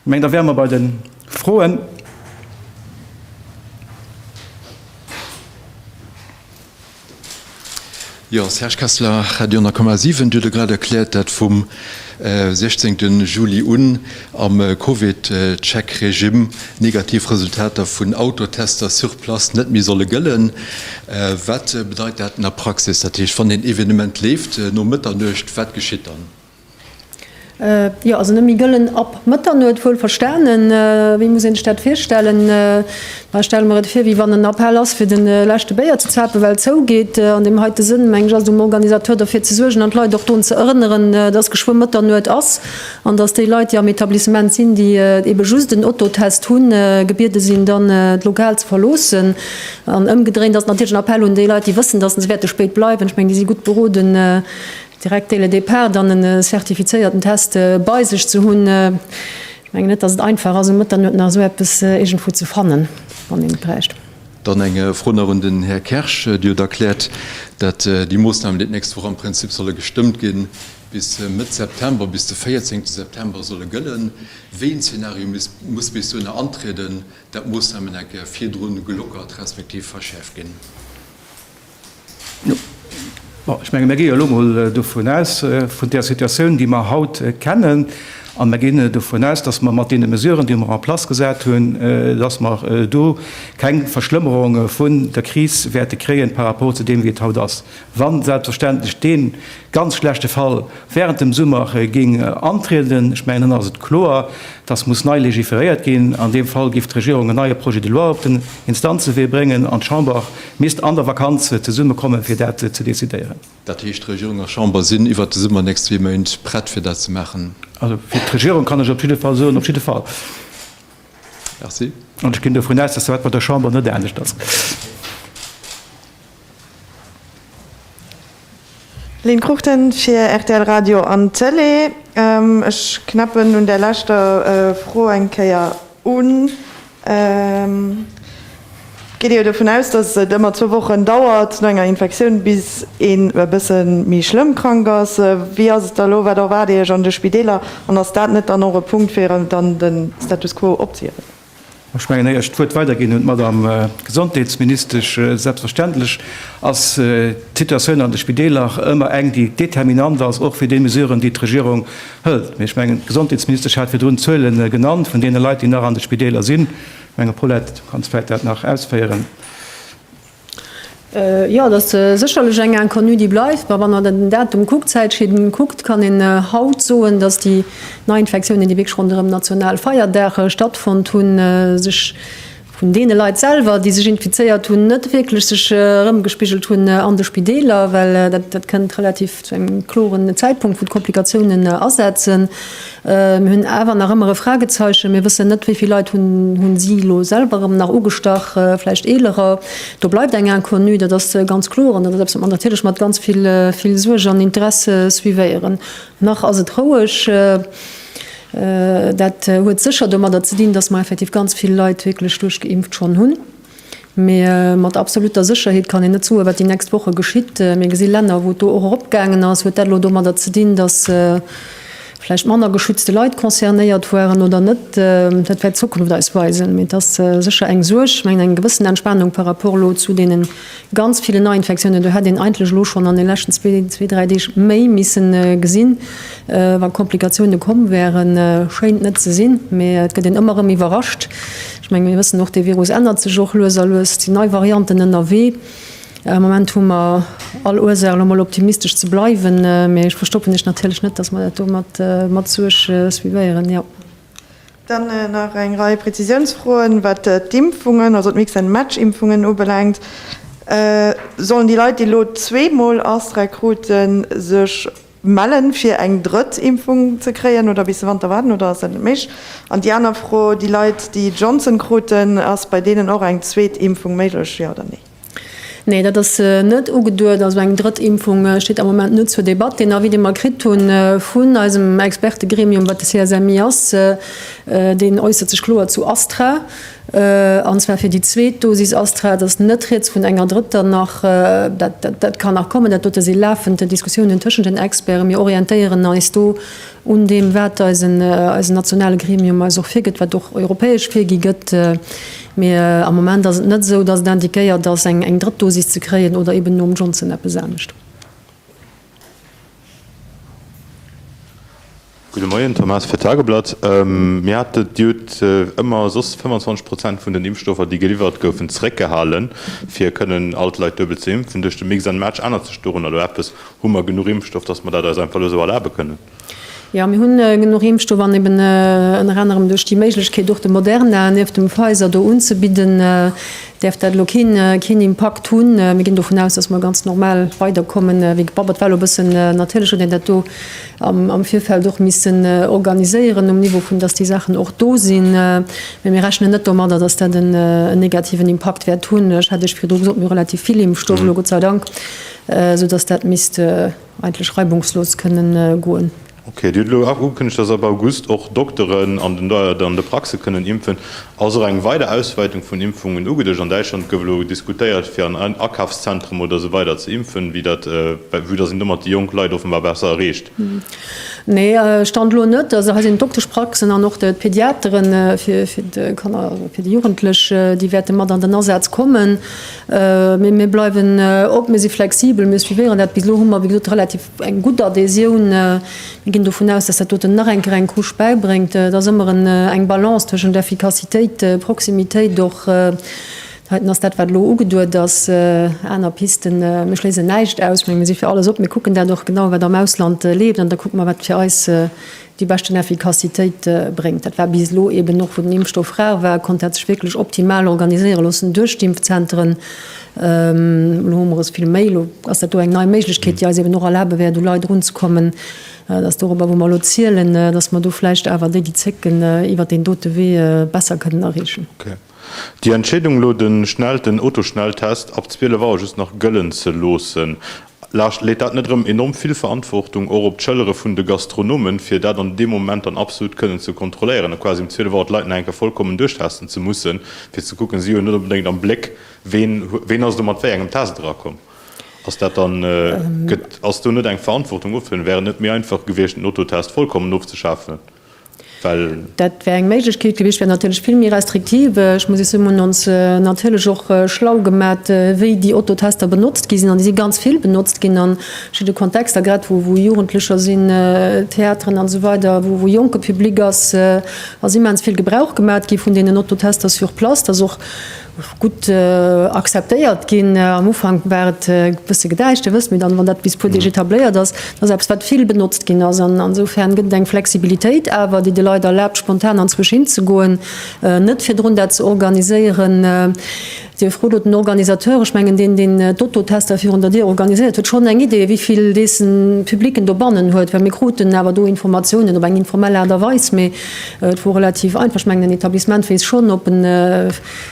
[SPEAKER 1] mengen, da wäre mer bei de Froen.
[SPEAKER 3] Jo, Serge Kessler, Radio 10,7. Dir hutt jo grad erkläert, dat vum 16 Juli un Am CovidCheck-Regimm negativ Resultater vun Autotester sur place net méi solle gëllen. Wat bedeit dat an der Praxis? Dat heescht, wann een Evenement leeft no Mëtternuecht, wat geschitt dann?
[SPEAKER 2] Jo, also net méi gëllen ab Mëtternuecht, wuel verstanen. Wéi muss een sech dat virstellen? Ech stelle mer et vir, wéi wann en Appell ass, fir de leschte Béier ze zapen, well zou geet. An deem heite Sënn, meng ech, ass et um Organisateur, derfir ze suergen an d'Leit och drun ze erënneren, dass geschwë Mëtternuecht ass. An dass déi Leit, déi am Etablissement sinn, déi ebe just en Ototest hunn, gebiede sinn, dann d'Lokal ze verloossen. An ëmgedréint ass et natierlech en Appell un déi Leit, déi wëssen, dass se wäerte spéit bleiwen, ech mengen, déi si gutt beroden, direkt dès le départ dann e zertifizéierten Test bei sech ze hunn. Ech mengen net, dass et einfach ass, um Mëtternuet nach esou eppes iergendwou ze fannen, wann een et bräicht. Dann eng Fro
[SPEAKER 3] nach un den Här Kersch. Dir hutt erkläert, datt déi Moossnamen, déi d'nächst Woch am Prinzip solle gestëmmt ginn, Bis Mëtt September, bis de 14 September solle gëllen. Wéi en Zeenario muss bis dohinner antrieden, dat d'Moossnamen eng Kéier virdru gelockert respektiv verschäerft ginn.
[SPEAKER 1] Bon, ech menge mir gi jo elo mol dovun aus, vun där Situatioun, déi mer haut kennen, a mir ginn dovun aus, dass mer mat deene Mesuren, déi mer en place gesat hunn, dass mer do keng Verschlëmmerung vun der Kris wäerte kréien par rapport zu deem, wéi et haut ass. Wann selbstverständlech dee ganz schlechte Fall während dem Summer géing antrieden, ech mengen, dann ass et kloer, dass muss nei legiferéiert ginn. An deem Fall géif d'Regierung en neie Projet de loi op den Instanzewee bréngen an d'Chamber misst an der Vakanz zesummekommen, fir dat ze decidéieren. Dat heescht, Regierung
[SPEAKER 3] a Chamber sinn iwwert de Summer, nächst zwee Méint, prett, fir dat ze maachen? Also fir d'Regierung
[SPEAKER 1] kann ech op jidde Fall soen, op jidde Fall.
[SPEAKER 3] Merci. An ech ginn
[SPEAKER 1] dovun aus, dass dat bei der Chamber net anescht ass.
[SPEAKER 4] Lynn Cruchten fir rtl Radio an Tëlee. Ech knäppen un där leschter Fro eng Kéier un. Geet Dir dovun aus, dass et ëmmer zwou Wochen dauert no enger Infektioun, bis een e bësse méi schlëmm krank ass? Wéi ass et da elo? Wat erwaart Dir Iech an de Spideeler? An ass dat net dann och e Punkt, fir dann de Status quo opzehiewen? Ech mengen,
[SPEAKER 1] éier ech d'Wuert weiderginn un d'Madam Gesondheetsministesch, Selbstverständlech ass d'Situatioun an de Spideeler ëmmer eng, déi determinant ass, och fir déi Mesuren, déi d'Regierung hëlt. Mee ech mengen, d'Gesondheetsministesch hat virdrun d'Zuele genannt vun deene Leit, déi nach an de Spideeler sinn. Menge Paulette, du kanns vläit dat nach ausféieren.
[SPEAKER 2] Jo, et ass sécherlech eng Inconnue, déi bleift. Mä wann Der den Datum kuckt, d'Zäitschinn kuckt, kann een haut soen, datt déi Neiinfektiounen, déi wierklech ronderëm national Feierdag stattfonnt hunn, sech vun deene Leit selwer, déi sech infizéiert hunn, net wierklech sech erëmgespigelt hunn an de Spideeler, well dat kënnt relativ zu engem kloren Zäitpunkt, wou d'Komplikatiounen asetzen. Mir hunn awer nach ëmmer e Fragezeichen. Mir wëssen net, wéi vill Leit hunn si elo selwer erëm nach ugestach, vläicht Eelerer. Do bleift eng Inconnue, dat ass ganz kloer an dat ass eppes, wat mer natierlech mat ganz vill Suerg an Interesse suivéieren. Nach ass et roueg. Dat huet sécher domadder ze dinn, dass mer effektiv ganz vill Leit wierklech duerchgeimpft schonn hunn. Mee mat absoluter Sécherheet kann een net soen, wat déi nächst Woche geschitt. Mir gesi Länner, wou d'Do och eropgaangen ass. Huet dat elo domadder ze dinn, datt vläicht manner geschützte Leit concernéiert waren oder net? Dat wäert d'Zukunft eis weisen. Mee et ass sécher eng Suerg. Ech mengen, eng gewëssen Entspanung par rapport elo zu deene ganz ville Neiinfektiounen, do hätt een eigentlech elo schonn an de leschten zwee, zwee, dräi Deeg méi misse gesinn, wa Komplikatioune komm wäeren. Schéint net ze sinn, mee et gëtt een ëmmer erëm iwwerrascht. Ech menge mir wëssen och, dee Virus ännert sech och lues a lues. Et sinn nei Varianten ënnerwee. Am Moment hu mer all Ursaach elo mol optimistesch ze bleiwen, mä ech verstoppen iech natierlech net, datt mer dat do mat mat Suerg suivéieren, jo. Dann
[SPEAKER 4] nach eng Rei Prezisiounsfroen, wat d'Impfungen, also d'Mix-and-Match-Impfungen ubelaangt. Sollen déi Leit, déi elo zweemol Astra kruten, sech mellen fir eng drëtt Impfung ze kréien oder bis de Wanter waarden oder ass dat net méiglech? An déi aner Fro, déi Leit déi Johnson kruten, ass bei deenen och eng zweet Impfung méiglech, jo oder nee? Nee, dat
[SPEAKER 2] ass net ugeduet. Also eng drëtt Impfung steet am Moment net zur Debatt. Deen Avis dee mer kritt hu vun eisem Expertegremium wat de CSMI ass, deen äussert sech kloer zu Astra. An zwar fir déi zweet Dosis Astra. Et ass net rieds vun enger drëtter nach. Dat kann nach kommen. Dat dote si lafend Diskussiounen tëschent den Experten. Mir orientéieren eis do un deem, wat eisen nationale Gremium eis och virgëtt, wat och europäesch virgi gëtt. Mee am Moment ass et net esou, datt et indiquéiert ass, eng drëtt Dosis ze kréien oder eeben nom Johnson eppes anescht.
[SPEAKER 5] Gudde Moien, Tom Haas fir d'Tageblatt. Mir hate jut ëmmer soss 25 Prozent vun den Impfstoffer, déi geliwwert goufen, zeréckgehale fir kënnen all d'Leit duebel ze impfen. Duerch de Mix and Match ännert sech dorunner elo eppes? Hu mer genuch Impfstoff, datt mer dat eis einfach elo esou erlabe kënnen? Jo, mir hunn
[SPEAKER 2] genuch Impfstoff an eben ënner anerem duerch déi Méiglechkeet och de Moderna nieft dem Pfizer do unzebidden, däerft dat elo keen Impakt hunn. Mir ginn dovun aus, datt mer ganz normal weiderkommen wéi gebabbelt. War elo e bëssen, natierlech huet een dat do am Virfeld och missen organiséieren um Niveau vun, datt déi Saachen och do sinn, mä mir rechnen net domadder, datt dat en negativen Impakt wäert hunn. Ech hat Iech virdru gesot, mir hu relativ vill Impfstoff elo, Gott sei Dank, esou datt dat misst, Eigentlech reibungslos kënnen goen. Ok, Dir hutt elo och
[SPEAKER 5] ugekënnegt, datt ab August och Dokteren an de Praxe kënnen impfen. Ass och eng weider Auswäitung vun Impfungen ugeduecht? An Däitschland gouf elo diskutéiert, fir an Akafszentrum oder esou weider ze impfen, vue datt een domat déi jonk Leit offenbar besser erreecht. Nee,
[SPEAKER 2] Stand elo net. Also hei sinn d'Dokteschpraxen an och d'Pediateren fir d'Kanner, fir déi Jugendlech, déi wäerte mat an den Asaz kommen. Mee mir bleiwen op, mir si flexibel, mir suivéieren dat. Bis elo hu mer, wéi gesot, relativ eng gutt Adhésioun. Mir ginn dovun aus, datt dat doten nach eng Kéier eng Couche bäibréngt. Et ass ëmmer eng Balance tëschent Effikassitéit, Proximitéit och. Heiten ass dat, wat elo ugeduet ass. Aner Pisten, mir schléissen näischt aus. Ech menge mir si fir alles op. Mir kucken dat och genau, wat am Ausland leeft, an da kucke mer, wat fir eis déi beschten Effikassitéit bréngt. Dat war bis elo eben och, wou den Impfstoff rar war, konnt dat sech wierklech optimal organiséiere loossen duerch d'Impfzenteren. Elo hu mer es vill méi, elo ass dat do eng nei Méiglechkeet, déi eis eben och erlabe wäert u Leit erunzekommen. Et ass dorobber, wou mer elo zielen, datt mer do vläicht awer déi, déi zécken, iwwert deen dote Wee besser kënnen erreechen. Déi
[SPEAKER 5] Entscheedung elo den Schnell den Autoschnelltest ab 12 Auer just nach gëllen ze loossen, laascht leet dat net erëm enorm vill Verantwortung och op d'Schëllere vun de Gastronomen, fir dat an deem Moment dann absolut kënnen ze kontrolléieren a quasi um 12 Auer d'Leit nach eng Kéier vollkommen duerchtesten ze mussen, fir ze kucken, si hunn net onbedéngt am Bléck, ween ween ass do mat wéi engem Test erakomm? Ass dat dann, gëtt, ass do net eng Verantwortung ofzehëllen? Wär et net méi einfach gewiescht den Autotest vollkommen ofzeschafen?
[SPEAKER 2] Dat wär eng Méiglechkeet gewiescht, wär natierlech vill méi restriktiv. Ech muss Iech soen, mir hunn ons natierlech och schlau gemat, wéi déi Autotester benotzt gi sinn. An déi si ganz vill benotzt ginn a verschidde Kontexter, grad wou Jugendlecher sinn, Theateren an esou weider, wou jonke Public ass, ass immens vill Gebrauch gemat gi vun deenen Autotester sur place. gutt akzeptéiert ginn. Am Ufank war et e bësse gedäischt, Dir wësst, mee dann, wann dat bis puer Deeg etabléiert ass, dat ass eppes, wat vill benotzt ginn ass. An insofern gëtt et eng Flexibilitéit awer, déi de Leit erlaabt, spontan anzwousch hinzegoen, net virdrun dat ze organiséieren. Dir frot lo den Organisateur, ech mengen deen, deen d'Auto-Tester virun der Dier organiséiert huet, schonn eng Idee, wéi vill dessen Public en dobannen huet? Well mir kruten awer do Informatiounen op eng informell Aart a Weis, mee Et wor relativ einfach, ech mengen en Etablissement weess schonn, ob e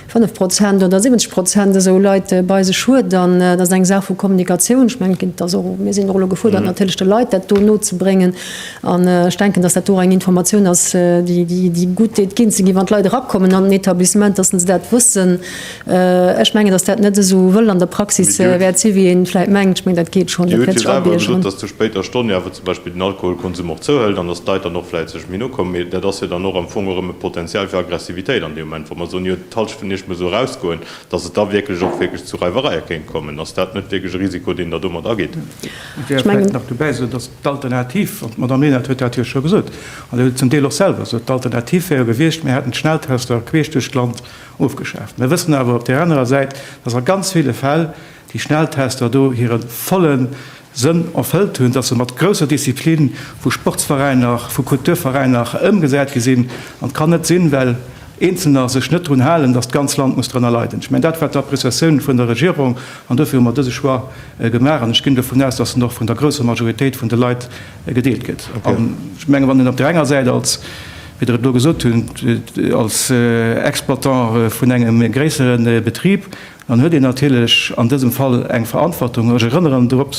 [SPEAKER 2] 5 Prozent oder 70 Prozent esou Leit bei sech huet. An et ass eng Saach vu Kommunikatioun. Ech mengen et ginn, et ass och, mir sinn och elo gefuerdert natierlech de Leit dat do nozebréngen. An ech denken, datt dat do och eng Informatioun ass, déi gutt deet ginn ze ginn, wann d'Leit erakommen an en Etablissement, datt se dat wëssen, Ech mengen, dass dat net esou wëll an der Praxis wäert si wéi een vläit mengt. Ech mengen, dat geet schonn. Dir hutt jo selwer gesot, dass zur
[SPEAKER 5] spéiter Stonn jo awer zum Beispill den Alkoholkonsum och zouhëlt an dass d'Leit dann och vläit sech méi no kommen. Mee dat ass jo dann och am Fong erëm e Potenzial fir Aggressivitéit an deem Moment, wa mer soen, jo et d'Hallschent vun Iech muss esou erausgoen, dass et da wierklech och wierklech zu Reiwereie kéint kommen. Ass dat net wierklech e Risiko, deen Der domat ageet? Et wär vläit
[SPEAKER 1] nach dobäi ze soen, dass d'Alternativ, an d'Madamm Lenert huet dat jo scho gesot an huet et zum Deel och selwer gesot, d'Alternativ wär jo gewiescht, mir hätten d'Schnelltester queesch duerch d'Land Ofgeschaaft. Mir wëssen awer op där anerer Säit, dass a ganz ville Fäll déi Schnelltester do hire volle Sënn erfëllt hunn, dass se mat grousser Disziplin vu Sportsveräiner, vu Kulturveräiner ëmgesat gi sinn. An et kann net sinn, well Eenzelner sech net drun halen, dass d'ganz Land muss drënner leiden. Ech mengen, dat war d'Appreciatioun vun der Regierung, an dofir hu mer dëse Choix gemaach. An ech ginn dovun aus, dass en och vun der grousser Majoritéit vun de Leit gedeelt gëtt. An ech menge wann een op där enger Säit als Wéi Der et elo gesot hutt, als Exploitant vun engem gréissere Betrib, dann huet een natierlech an dësem Fall eng Verantwortung. Ech erënneren drop,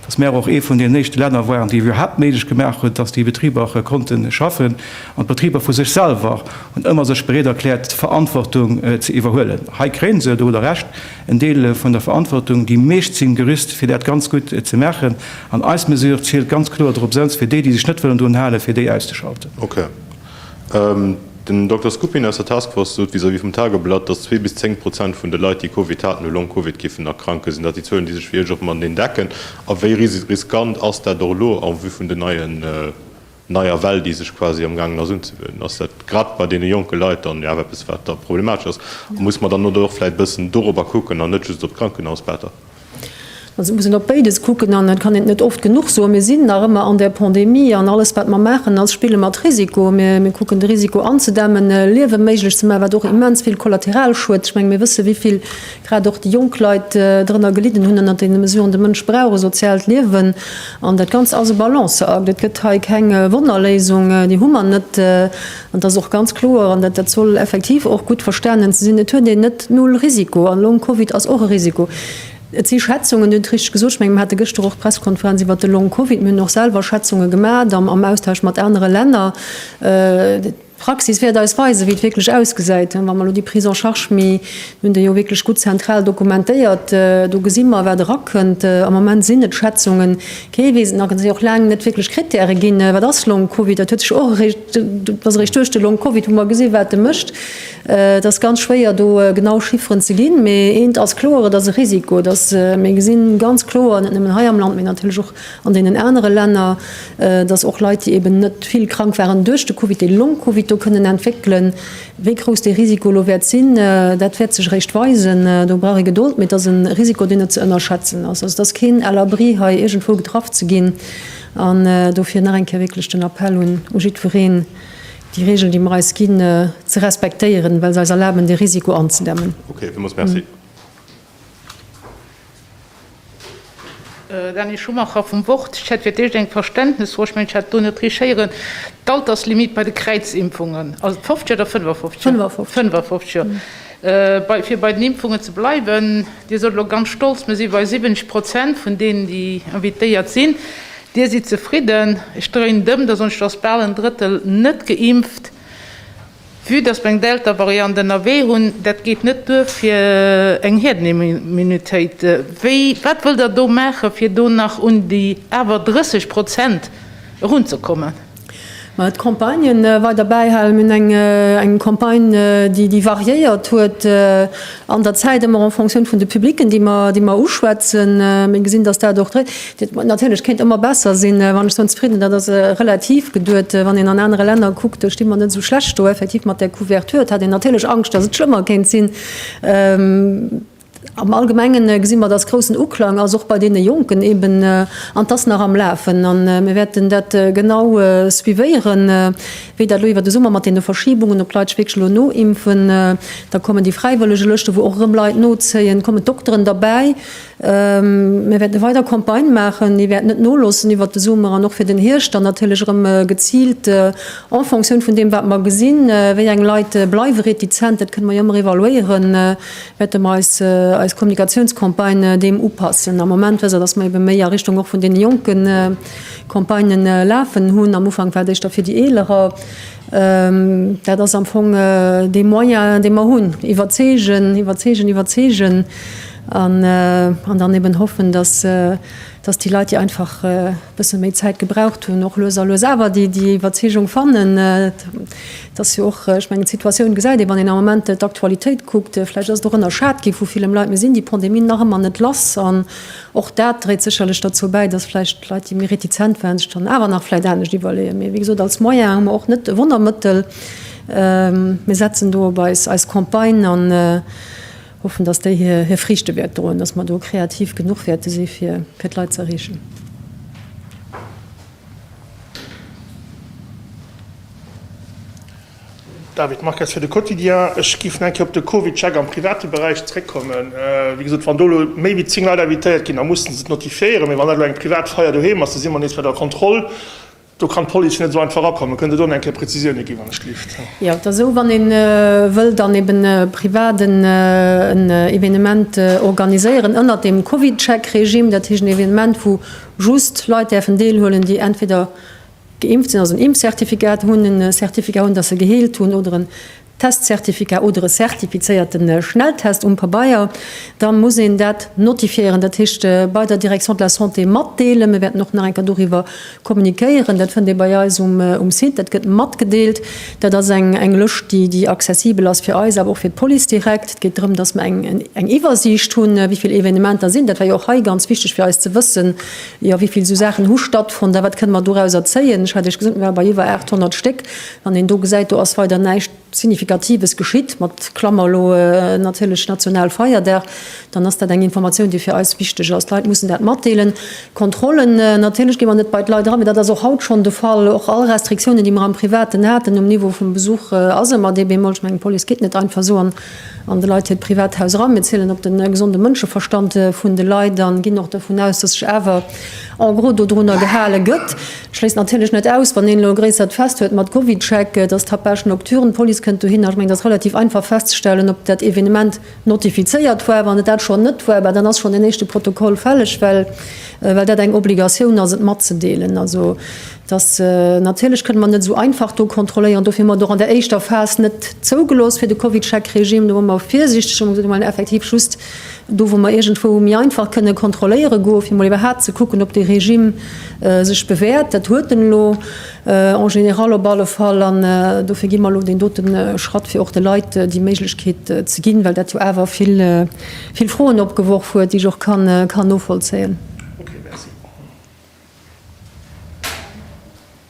[SPEAKER 1] dass mär och ee vun den éischte Länner waren, déi iwwerhaapt méiglech gemaach hunn, dass déi Betriber konnte schaffen. An d'Betriber vu sech selwer hunn ëmmer sech bereet erkläert, d'Verantwortung ze iwwerhuelen. Hei kréien se doru der Recht. En Deel vun der Verantwortung, déi meescht sinn gerüst fir dat ganz gutt ze maachen, an eis Mesure zielt ganz kloer drop, souz fir déi, déi sech net wëllen drun halen, fir déi auszeschalten. Ok.
[SPEAKER 5] Den Dokter Skupin aus der Taskforce sot vis-à-vis vum Tageblatt, datt zwee bis zéng Prozent vun de Leit, déi Covid haten, u Long Covid géifen erkranken. Sinn dat déi Zuelen, déi sech fir Iech och mateneen decken? A wéi riskant ass dat och elo en vue vun den neie neier Well, déi sech quasi am gaangen ass unzewönen, ass dat grad bei deene jonke Leit dann jo awer eppes, wat da problematesch ass. A muss mer dann net och vläicht e bëssen dorobber kucken an net just op d'Krankenhausbetter? Also
[SPEAKER 2] muss een op béides kucken an dat kann een net oft genuch soen. Mir sinn nach ëmmer an där Pandemie an alles, wat mer maachen, ass spille mat Risiko. Mir kucken de Risiko anzedämmen, Liewe méiglech ze maachen, wat och immens vill Kollateralschued, ech menge mir wësse wéi vill grad och déi jonk Leit drënner gelidden hunn ënnert deene Mesuren. De Mënsch brauch e soziaalt Liewen an dat Ganzt ass e Balanceakt. Et gëtt hei keng Wonnerléisung, déi hu mer net. An et ass och ganz kloer, an dat soll effektiv och gutt verstanen ze sinn, et huet een net null Risiko. An Long-Covid ass och e Risiko. Et si Schätzungen, Dir hutt richteg gesot, ech mengen, mir hate gëschter och d'Pressekonferenz iwwert de Long-Covid, mir hunn och selwer Schätzunge gemaach am Austausch mat anere Länner. D'Praxis wäert eis weisen, wéi et wierklech ausgesäit, wa mer elo déi Prise en charge, mir hunn déi jo wierklech gutt zentral dokumentéiert, do gesi mer, wat erakënnt. Am Moment sinn et Schätzungen, kee weess et nach, et si och laang net wierklech Krittäre ginn, wat ass Long-Covid, dat huet sech och eréischt, dat ass eréischt duerch de Long-Covid, wou mer gesinn, wat e mécht. Et ass ganz schwéier, do genau Chifferen ze ginn, mee eent ass kloer, et ass e Risiko, dass, mir gesinn ganz kloer, net nëmmen hei am Land, mee natierlech och an deenen anere Länner, dass och Leit, déi eben net vill krank waren duerch de Covid, dee Long-Covid do kënnen entwéckelen. Wéi grouss dee Risiko elo wäert sinn, dat wäert sech eréischt weisen. Do brauch ee Gedold, mee et ass e Risiko, deen net ze ënnerschätzen ass. Also et ass keen à l'abri, hei iergendwou getraff ze ginn. An dofir nach eng Kéier wierklech den Appell un jiddwereen, déi Regeln, déi mer eis ginn, ze respektéieren, well se eis erlaben, dee Risiko anzedämmen.
[SPEAKER 6] Dany Schumacher vum Wort, Ech hätt fir d'éischt eng Verständnesfro, ech mengen, ech hat do net richt héieren, d'Alterslimite bei de Kräizimpfungen, ass et 50 oder 55 Joer? 55. 55 Joer. Fir bei den Impfungen ze bleiwen, Dir sot elo ganz stolz, mir si bei 70 Prozent vun deenen, déi invitéiert sinn. Dir sidd zefridden. Ech dréinen et ëm, da soen ech, et ass bal en Drëttel net geimpft. Vue dass mer eng Delta-Variant ënnerwee hunn, dat geet net duer fir eng Hierdenimmunitéit. Wéi, wat wëllt Der do maachen, fir do nach un déi awer 30 Prozent erunzekommen? Mä
[SPEAKER 2] et Campagnë weider bäihalen. Mir hunn eng Campagne, déi variéiert huet an der Zäit, ëmmer en fonction vun de Publicken, déi mer uschwätzen. Mir gesinn, dass dat och dréit. Natierlech kéint ëmmer besser sinn. Wann ech soen zefridden, dat ass relativ geduet. Wann een an anere Länner kuckt, do sti mer net esou schlecht do. Effektiv, mat där Couverture, et hat een natierlech Angscht, datt et schlëmmer kéint sinn. Am Allgemenge gesi mer, datt groussen Uklang ass, och bei deene Jonken eeben, an et ass nach am Lafen. A mir wäerten dat genau suivéieren, wéi dat elo iwwer de Summer mat deene Verschibungen, ob d'Leit sech wierklech elo noimpfen. Da kommen déi Fräiwëllegelëschten, wou och erëm Leit nozéien, kommen d'Dokteren derbäi. Mir wäerte weider Campagnë maachen. Mir wäerten net noloossen iwwert de Summer an och fir den Hierscht dann natierlech erëm geziilt en Fonctioun vun deem, wat mer gesinn, wéi eng Leit bleiwe retizent, dat kënne mer jo ëmmer evaluéieren, wäerte mer eis Kommunikatiounscampagnë deem upassen. Am Moment weess Der, dass mer ebe méi a Richtung och vun deene Jonke Campagnë lafen hunn. Am Ufank war et éischter fir déi Eelerer. Dat ass am Fong dee Moyen, dee mer hunn, iwwerzeegen, iwwerzeegen, iwwerzeegen. An dann eben hoffen, dass déi Leit, déi einfach e bësse méi Zäit gebraucht hunn, och lues a lues awer déi Iwwerzeegung fannen. Et ass jo och, ech mengen, d'Situatioun gesäit ee, wann een am Ament d'Aktualitéit kuckt. Vläicht ass et och ënnerschat gi vu villem Leit. Mir sinn déi Pandemie nach ëmmer net lass an och dat dréit sécherlech derzou bäi, dass vläicht d'Leit, déi méi retizent waren, sech dann awer nach vläicht anescht iwwerleeën. Mee wéi gesot, als Moyen hu mer och net e Wonnermëttel. Mir setzen do op eis Campagne an, Hoffen, dass déi hir Friichte wäert droen, dass mer do kreativ genuch wäerte si fir d'Leit ze erreechen.
[SPEAKER 7] David Marques fir de Quotidien. Ech géif nach eng Kéier op de CovidCheck am private Beräich zréckkommen. Wéi gesot, wann do elo méi wéi zéng Leit invitéiert ginn, da musse se et notifiéieren. Mee wann dat elo eng privat Feier doheem ass, da si mer nees bei der Kontroll. Do kann d'Police net esou einfach erakommen. Kënnt Der do nach eng Kéier Präzisioune ginn, wann ech dierft? Jo, et ass esou, wann ee
[SPEAKER 2] wëll dann eben privat en Evenement organiséieren ënnert deem CovidCheck-Regime, dat heescht en Evenement, wou just Leit däerfen deelhuelen, déi entweder geimpft sinn, also en Impfzertifikat hunn, e Certificat hunn, datt se geheelt hunn, oder en Testcertificat oder e certifizéierte Schnelltest um Pabeier, da muss een dat notifiéieren, dat heescht bei der Direction de la Santé matdeelen. Mir wäerten och nach eng Kéier doriwwer kommunikéieren. Dat fënnt ee bei eis um Site, dat gëtt matgedeelt. Dat ass eng Lëscht, déi accessibel ass fir eis, awer och fir d'Police direkt. Et geet drëm, dass mer eng Iwwersiicht hunn, wéi vill Evenementer sinn. Dat war jo och hei ganz wichteg fir eis ze wëssen, jo wéi vill esou Saachen hu stattfonnt a wat kënne mer dorauser zéien. Ech hat Iech gesot, mir ware bei iwwer 800 Stéck. Wann een do gesäit, do ass weider näischt Signifikatives geschitt, mat Klammer elo natierlech Nationalfeierdag, dann ass dat eng Informatioun, déi fir eis wichteg ass. D'Leit mussen dat matdeelen. Kontrollen, natierlech gi mer net bei d'Leit eran, mee dat ass och haut schonn de Fall. Och all Restriktiounen, déi mer am Privaten haten um Niveau vum Besuch, ass ëmmer dee Bémol, ech mengen, d'Police geet net einfach esou an de Leit hiert Privathaus eran. Mir zielen op de gesonde Mënscheverstand vun de Leit a ginn och dovun aus, dass sech awer, en gros dodrunner gehale gëtt. Ech schléissen natierlech net aus, wann een elo e gréissert Fest huet mat Covidcheck, dass d'Tapage nocturne, d'Police kënnt dohinner. Ech mengen, et ass relativ einfach festzestellen, ob dat Evenement notifizéiert war. Wann et dat schonn net war, bah dann ass schonn deen éischte Protokoll fälleg, well well dat eng Obligatioun ass, et matzedeelen. Also dass natierlech kënne mer net esou einfach do kontrolléieren. Dofir hu mer et och an der éischter Phas net zougelooss fir de Covidcheck-Regime. Do ware mer virsiichteg a mer gesot, Mir wollen effektiv just Do wou mer iergendwou méi einfach kënne kontrolléiere goe fir mol iwwerhaapt ze kucken, ob dee Regime sech bewäert, dat huet en elo en général op alle Fall, an dofir gi mer elo deen dote Schratt, fir och de Leit déi Méiglechkeet ze ginn, well dat jo awer vill Froen opgeworf huet, déi ech och kann novollzéien.